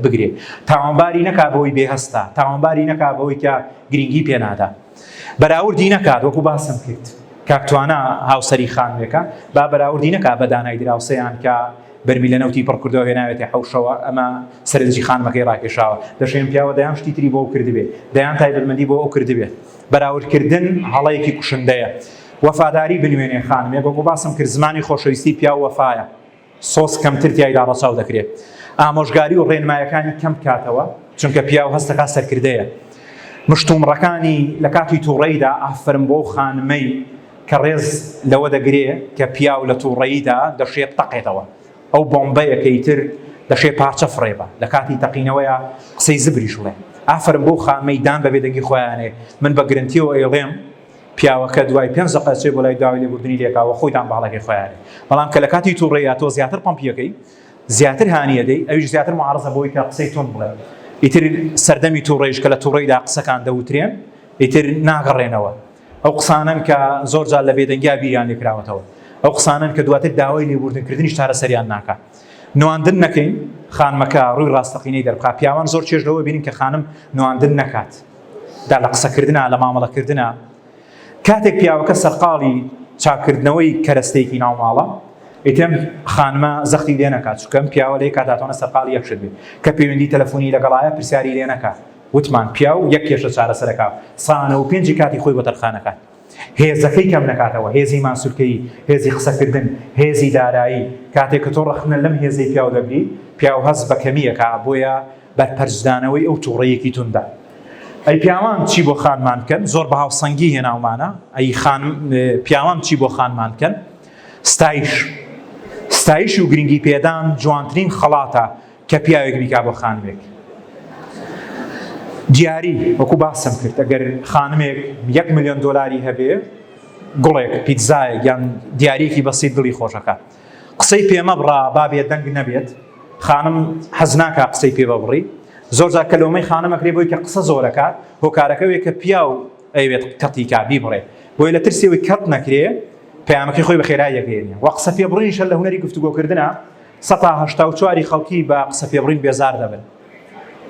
بگرێ تاوانباری نەکا بەوەی بێهستا تاوانباری نەکا بەوەی کە گرنگی پێنادا بەراوردی نەکات وەکو باسم کرد کاکتوانە هاوسری خانوێکە با بەراوردی نەکا بە دانای دراوسەیان کە بەرمی لە نەوتی پڕکردەوە هێناوێتی حوشەوە ئەمە سەرنجی خانمەکەی ڕاکێشاوە دەشێن پیاوە دەیان شتی تری بۆ کردبێ دەیان تایبەتمەندی بۆ ئەو کردبێ بەراوردکردن هەڵەیەکی کوشندەیە وەفاداری بنوێنێ خانمێک وەکو باسم کرد زمانی خۆشەویستی پیاو وەفایە سۆز کەمتر تیایدا ڕەچاو دەکرێ ئامۆژگاری و ڕێنمایەکانی کەم بکاتەوە چونکە پیاو هەستەکا سەرکردەیە مشتومڕەکانی لە کاتی توڕەیدا ئافەرم بۆو خانمەی کە ڕێز لەوە دەگرێ کە پیاو لە توڕەیدا دەشێ بتەقێتەوە ئەو بۆمبەیە کە ئیتر دەشێ پارچە فڕێبا لە کاتی تەقینەوەیە قسەی زبریش بڵێ ئافەرم بۆو خانمەی دان بە بێدەنگی خۆیانێ من بە گرنتیەوە ئەیڵێم پیاوەکە دوای پێنج دەقە ئەچێت بۆ لای داوای لێبوردنی لێکا و خۆی دان بە هەڵەکەی خۆی ئەنێت، بەڵام کە لە کاتی توڕەییدا تۆ زیاتر پەمپی ئەکەی، زیاتر هانی ئەدەی، ئەویش زیاتر موعارەزە بۆی کە قسەی توند بڵێت. ئیتر سەردەمی توڕەییش کە لە توڕەییدا قسەکان دەوترێن، ئیتر ناگەڕێنەوە. ئەو قسانەن کە زۆر جار لە بێدەنگیا بیریان لێ کراوەتەوە. ئەو قسانەن کە دواتر داوای لێبوردنکردنیش چارەسەریان ناکا. نواندن نەکەین، خانمەکە ڕووی ڕاستەقینەی دەربخا. پیاوان زۆر چێژ لەوە ئەبینن کە خانم نواندن نەکات. دا لە قسەکردنا، لە مامەڵەکردنا. کاتێک پیاوەکە سەرقاڵی چاککردنەوەی کەرەستەیەکی ناو ماڵە، ئیتر ئەم خانمە زەختی لێ نەکا، چونکە ئەم پیاوە لەی کاتاتانە سەرقاڵی یەک شت بێ، کە پەیوەندی تەلەفونی لەگەڵایە پرسیاری لێ نەکا. وتمان، پیاو یەک کێشە چارەسەر ئەکا، سا نە و پێنجی کاتی خۆی بۆ تەرخان ئەکات. هێزەکەی کەم نەکاتەوە، هێزی ماسولکەیی، هێزی قسەکردن، هێزی دارایی. کاتێک کە تۆ ڕەخنە لەم هێزەی پیاو دەگری، پیاو هەست بە کەمی ئەکا، بۆیە. بەرپەرچدانەوەی ئەو توڕەیەکی توندە. ئەی پیاوان چی بۆ خانمان بکەن؟ زۆر بە هاوسەنگی هێناومانە. ئەی خان پیاوان چی بۆ خانمان بکەن؟ ستایش ستایش و گرنگی پێدان جوانترین خەڵاتە کە پیاوێک بیکا بۆ خانمێک. دیاری وەکو باسم کرد ئەگەر خانمێک یەک ملیۆن دۆلاری هەبێ گوڵێک پیتزایەک یان دیارێکی بەسیت دڵی خۆشەکات. قسەی پێ مەبڕە با بێدەنگ نەبێت خانم حەز ناکا قسەی پێ ببڕی زۆر جار کە لۆمەی خانمەکرێ بۆی کە قسە زۆرەکە هۆکارەکەوێ کە پیاو ئەوێت کەتیکا بیبڕێ بۆی لە ترسێەوەی کەت نەکرێ پامەکەی خۆی بە خێرا یەگەێنێ و قسە پێبڕینشە لە هوەری گفتوگۆکردە سە هشتا و چواری خەڵکی بە قسە پێبڕین بێزار دەبن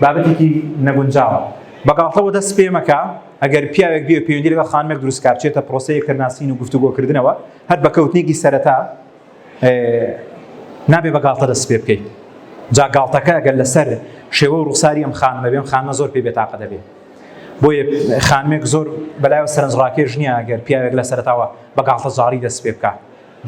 بابەتێکی نەگونجاوە بەگاڵتەوە دەست پێ مەکە ئەگەر پیاوێک بێ پەیوەندی لەگەڵ خانمێک دروستکە بچێتە پرۆسەی یەکترناسین و گفتوگۆکردنەوە هەر بە کەوتنێکی سەرەتا نابێ بە گاڵتە دەست پێ بکەیت جا گاڵتەکە گەل لەسەر شێوە و ڕوخساری ئەم خانمە بێم خانمە زۆر پێ بێتاقە دەبێت بۆیە خانمێک زۆر بەلایەوە سەرنج ڕاکێش نییە گەر پیاوێک لە سەرتاوە بە گاڵتە زاری دەست پێ بکە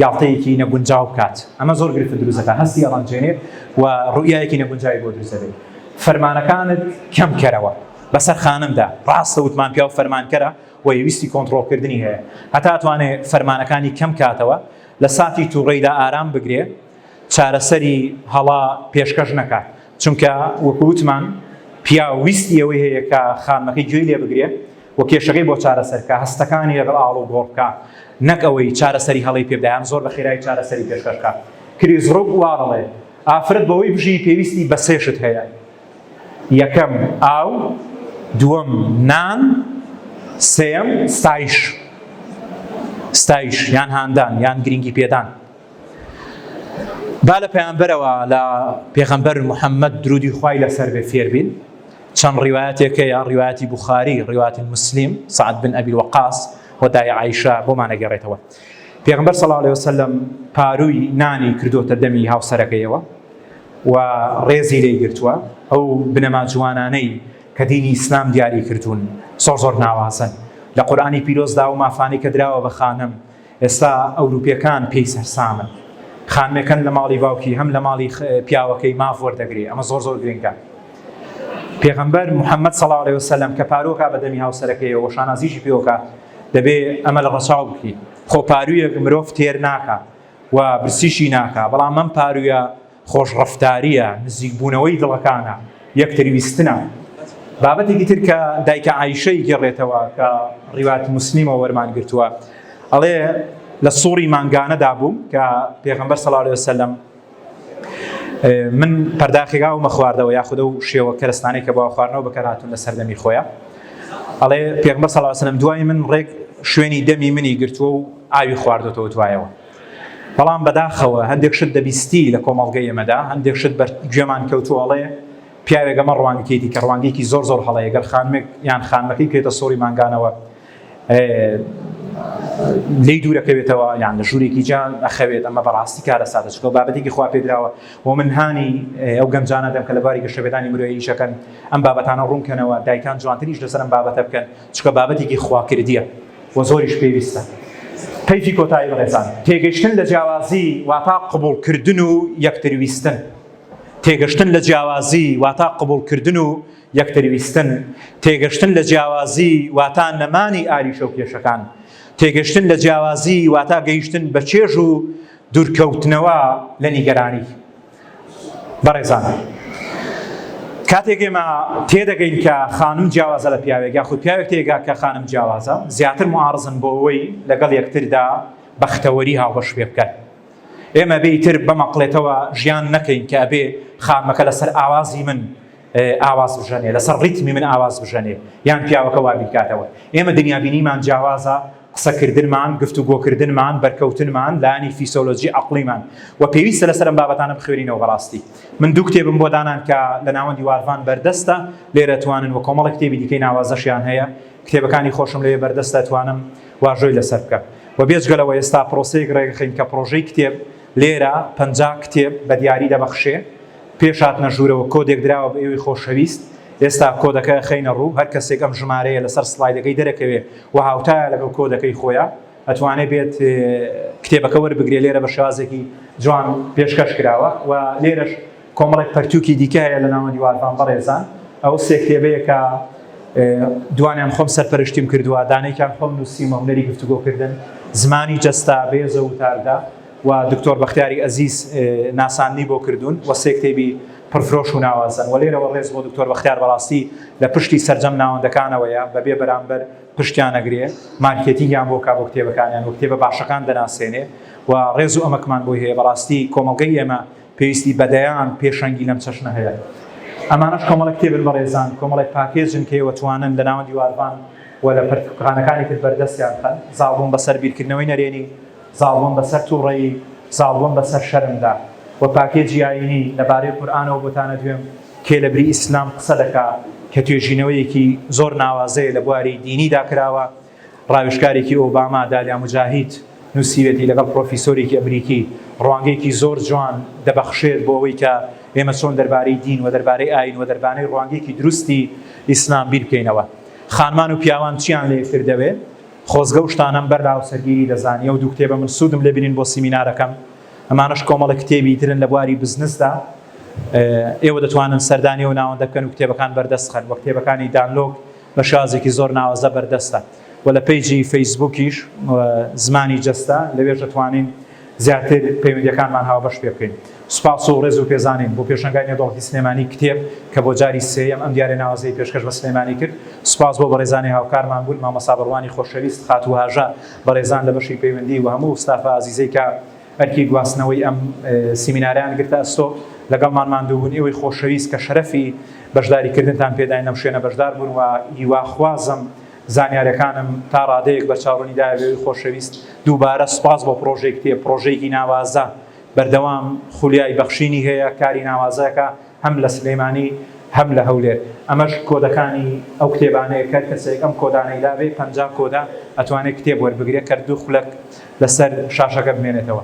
گاڵتەیەکی نەگونجاو بکات، ئەمە زۆر گرفت دروست دەکات، هەستی ئەڕەنجێنێت و ڕوئیایەکی نەگونجاوی بۆ دروست دەبێت. فەرمانەکانت کەم کەرەوە بەسەر خانمدا، ڕاستە وتمان پیاو فەرمانکەرە و ویستی کۆنتڕۆڵکردنی هەیە، هەتا ئەتوانێت فەرمانەکانی کەم کاتەوە، لە ساتی توڕەیدا ئارام بگرێت، چارەسەری هەڵە پێشکەش نەکات. چونکە وەکو وتمان پیاو ویستی ئەوەی هەیە کە خانمەکەی گوێی لێ بگرێ و کێشەکەی بۆ چارەسەر بکا، هەستەکانی لەگەڵ ئاڵ و گۆڕ بکا، نەک ئەوەی چارەسەری هەڵەی پێ بدا یان زۆر بە خێرایی چارەسەری پێشکەش بکا. کریس ڕوک وا دەڵێ، ئافرەت بەوەی بژی پێویستی بە سێ شت هەیە، یەکەم، ئاو، دووەم، نان، سێیەم، ستایش، ستایش یان هاندان یان گرینگی پێدان. با لە پەیامبەرەوە لە پێغەمبەر محەممەد درودی خوای لەسەر بێ فێربین چەند ڕیواەتێکەیە ڕیواەتی بخاری ڕیواتی مسلیم سعد بن ئەبی وەقاس وەدای عیشە بۆمانەگەڕێتەوە پێغمبەر سەڵ لێ وسلم پارووی نانی کردوتە دەمی هاوسەرەکەیەوە و ڕێزی لی گرتووە ئەو بنەما جوانانەی کە دینی ئیسلام دیاری کردوون زۆر زۆر ناوازن لە قورآانی پیرۆزدا و مافانی کە دراوە بە خانم ئێستا ئەوروپیەکان پێی سەرسامن خانمێکەن لە ماڵی باوکی هەم لە ماڵی پیاوەکەی ماف وەردەگری ئەمە زۆر زۆر گرنگە پێغەمبەر محەممەد سەڵاو لێ وسلم کە پارۆکە بە دەمی هاوسەرەکەی وە شانازیشی پێوکە دەبێ ئەمە لە ڕەچاو بکەیت خۆپارویەک مرۆڤ تێر ناکە و برسیشی ناکە بەڵام ئەم پارویە خۆشڕەفتارییە، نزیکبوونەوەی دڵەکانە، یەکتربیستنە. بابەتێکی تر کە دایکە عایشەی گێڕێتەوە کە ڕیوایەتی موسلیمەوە وەرمان گرتووە ئەڵێ، لە سوڕی مانگانەدا بووم کە پێغەمبەر صلی اللە علیە وسلم من پەرداخێکا و مەخواردەوە یاخود ئەو شێوە کەرستانەی کە بۆ خواردنەوە بەکارهاتون لە سەردەمی خۆیە ئەڵێ پێغمبەر صلی اللە علیە وسلم دوای من ڕێک شوێنی دەمی منی گرتووە و ئاوی خواردۆتەوە دوایەوە بەڵام بەداخەوە هەندێک شت دەبیستی لە کۆمەڵگەی ئێمەدا هەندێک شت بەر گوێمان کەوتوە ئەڵێ پیاوێک ئەمە ڕوانگەکەیتی کە ڕوانگەیەکی زۆر زۆر هەڵەیە گەر خانمێک یان خانمەکەی پێێتە سۆری مانگانەوە لی دوورەکەوێتەوە یان لە ژوورێکی جان ئەخەوێت ئەمە بەڕاستی کارە سادە چکە بابەتێکی خوا پێدراوە و من هاانی ئەو گەنجانە دەم کە لە باری گەشەبێدانی مرۆیشەکەن ئەم بابەتانە ڕوونکەنەوە دایکان جوانتریش لەسەرم بابەتە بکەن چونکە بابەتێکی خواکردیە و زۆریش پێویستە. پەیڤی کۆتایی بەڕێزان، تێگەشتن لە جیاوازی واتا قبوڵ کردن و یەکتر ویستن. تێگەشتن لە جیاوازی واتا قبوڵ کردن و یەکتر ویستن. تێگەشتن لە جیاوازی واتا نەمانی ئاریشە و کێشەکان. تێگەشتن لە جیاوازی واتا گەیشتن بە چێژ و دوورکەوتنەوە لە نیگەرانی. بەڕێزان کاتێک ئێمە تێدەگەین کە خانم جیاوازە لە پیاوێک یاخود پیاوێک تێگا کە خانم جیاوازە زیاتر معارزن بۆ ئەوەی لەگەڵ یەکتردا بەختەوەری هاوبەش پێ بکەن ئێمە بێتر بەمەقلێتەوە ژیان نەکەین کە ئەبێ خامەکە لەسەر ئاوازی من ئاواز بژەنێ لەسەر ڕیتمی من ئاواز بژەنێ یان پیاوەکە وابیرکاتەوە ئێمە دنیابینیمان جیاوازە قسەکردنمان گفت و گۆکردنمان بەرکەوتنمان لانی فیسۆلۆجی عقلیمان و پێویستە لەسەرم بابەتانە بخوێنینەوە بەڕاستی من دوو کتێبم بۆ دانان کە لە ناوەندی واروان بەردەستە لێرە توانن و کۆمەڵە کتێبی دیکەی ناوازەشیان هەیە کتێبەکانی خۆشم لەوێ بەردەستە توانم واژۆی لەسەر بکە و بێجگەلەوە ئێستا پرۆسەیەک ڕێگەخین کە پرۆژەی کتێب لێرە پەنجا کتێب بە دیاری دەبەخشێ پێش هاتنە ژوورەوە کۆدێک دراوە بە ئێوەی خۆشەویست، ئێستا کۆدەکە ئەخەینە ڕوو، هەر کەسێک ئەم ژمارەیە لەسەر سڵایدەکەی دەرەکەوێ و هاوتایە لەگەڵ کۆدەکەی خۆیا ئەتوانێ بێت کتێبەکە وەربگرێ، لێرە بە شێوازێکی جوان پێشکەش کراوە و لێرەش کۆمەڵێک پەرتووکی دیکە هەیە لە ناوەندی وارفان بەڕێزان ئەو سێ کتێبەیە کە دوانیان خۆم سەرپەرشتیم کردووە دانێکیان خۆم نووسیومە هونەری گفتوگۆکردن، زمانی جەستە، بێز و وتاردە. و دکتۆر بەختیاری ئەزیز ناساندنی بۆ کردوون و سێ کتێبی پڕفرۆش و ناوازەن و لێرەوە ڕێز بۆ دکتۆر بەختیار بەڕاستی لە پشتی سەرجەم ناوەندەکانەوەیە بەبێ بەرامبەر پشتیان ئەگرێ مارکێتینگیان بۆ کا بۆ کتێبەکانیان و کتێبە باشەکان دەناسێنێ و ڕێز و ئەمەکمان بۆی هەیە بەڕاستی کۆمەڵگەی ئێمە پێویستی بە دەیان پێشەنگی لەم چەشنە هەیە ئەمانەش کۆمەڵە کتێبن بەڕێزان کۆمەڵێک پاکێجن کە ئێوە توانن لە ناوەندی وارڤان و لە پەرتووکخانەکانی تر بەردەستیان بخەن زاڵبووم بەسەر بیرکردنەوەی نەرێنی زاڵبوون بەسەر توڕەیی، زاڵبوون بەسەر شەرمدا، وە پاکێجی ئایینی لەبارەی قورئانەوە بۆتانە دوێم، کێ لەبری ئیسلام قسە دەکا کە توێژینەوەیەکی زۆر ناوازەیە لە بواری دینیدا کراوە، ڕاوێژکارێکی ئۆباما دالیا موجاهید نووسیوێتی لەگەڵ پرۆفیسۆرێکی ئەمریکی ڕوانگەیەکی زۆر جوان دەبەخشێت بۆ ئەوەی کە ئێمە چۆن دەربارەی دین وە دەربارەی ئایین وە دەربانەی ڕوانگەیەکی دروستی ئیسلام بیر بکەینەوە خانمان و پیاوان چیان لە یەکتر دەوێ خۆزگە و شتانەم بەر لهاوسەرگیری دەزانی ئەو دوو کتێبە من سودم لێ بینین بۆ سیمینارەکەم ئەمانەش کۆمەڵە کتێبی ترن لە بواری بزنسدا ئێوە دەتوانن سەردانی و ناوەندە بکەن و کتێبەکان بەردەست خەن وە کتێبەکانی دانلۆک بە شازێکی زۆر ناوەزە بەردەستە و لە پیجی فەیسبوکیش زمانی جەستە لەوێش دەتوانین زیاتر پەیوەندیەکانمان هاوبەش پێ بکەین. سوپاس و ڕێز و پێزانین بۆ پێشەنگای نێودەوڵەتی سلێمانی کتێب کە بۆ جاری سێیەم ئەم دیارە ناوازەی پێشکەش بە سلێمانی کرد. سوپاس بۆ بەڕێزانی هاوکارمان بوون، مامۆستا بەڕوانی خۆشەویست، خاتوو هاژە، بەڕێزان لە بەشی پەیوەندی و هەموو ستافە ئازیزەی کە ئەرکی گواستنەوەی ئەم سیمینارەیان گرتە ئەستۆ لەگەڵمان ماندوو بوون، ئێوەی خۆشەویست کە شەرەفی بەشداری کردنتان پێداین لەم شوێنە بەشدار بوون و هیوا خوازم زانیاریەکانم تا ڕادەیەک بەرچاوڕونی دایە بێوی خۆشەویست دووبارە سوپاس بۆ پڕۆژەی کتێب پڕۆژەیەکی ناوازە بەردەوام خولیای بەخشینی هەیە کاری ناوازەکە هەم لە سلێمانی هەم لە هەولێر ئەمەش کۆدەکانی ئەو کتێبانەیە کەر کەسێک ئەم کۆدانەی لابێ پەنجا کۆدە ئەتوانێ کتێب وەربگرێ کەر دوو خولەک لەسەر شاشەکە بمێنێتەوە.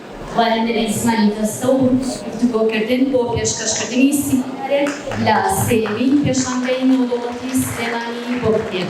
خوارەندنی زمانی جەستە و گفتوگۆکردن بۆ پێشکەشکردنی سیمینارێک لە سێیەمین پێشانگەی نێودەوڵەتی سلێمانی بۆ کتێب.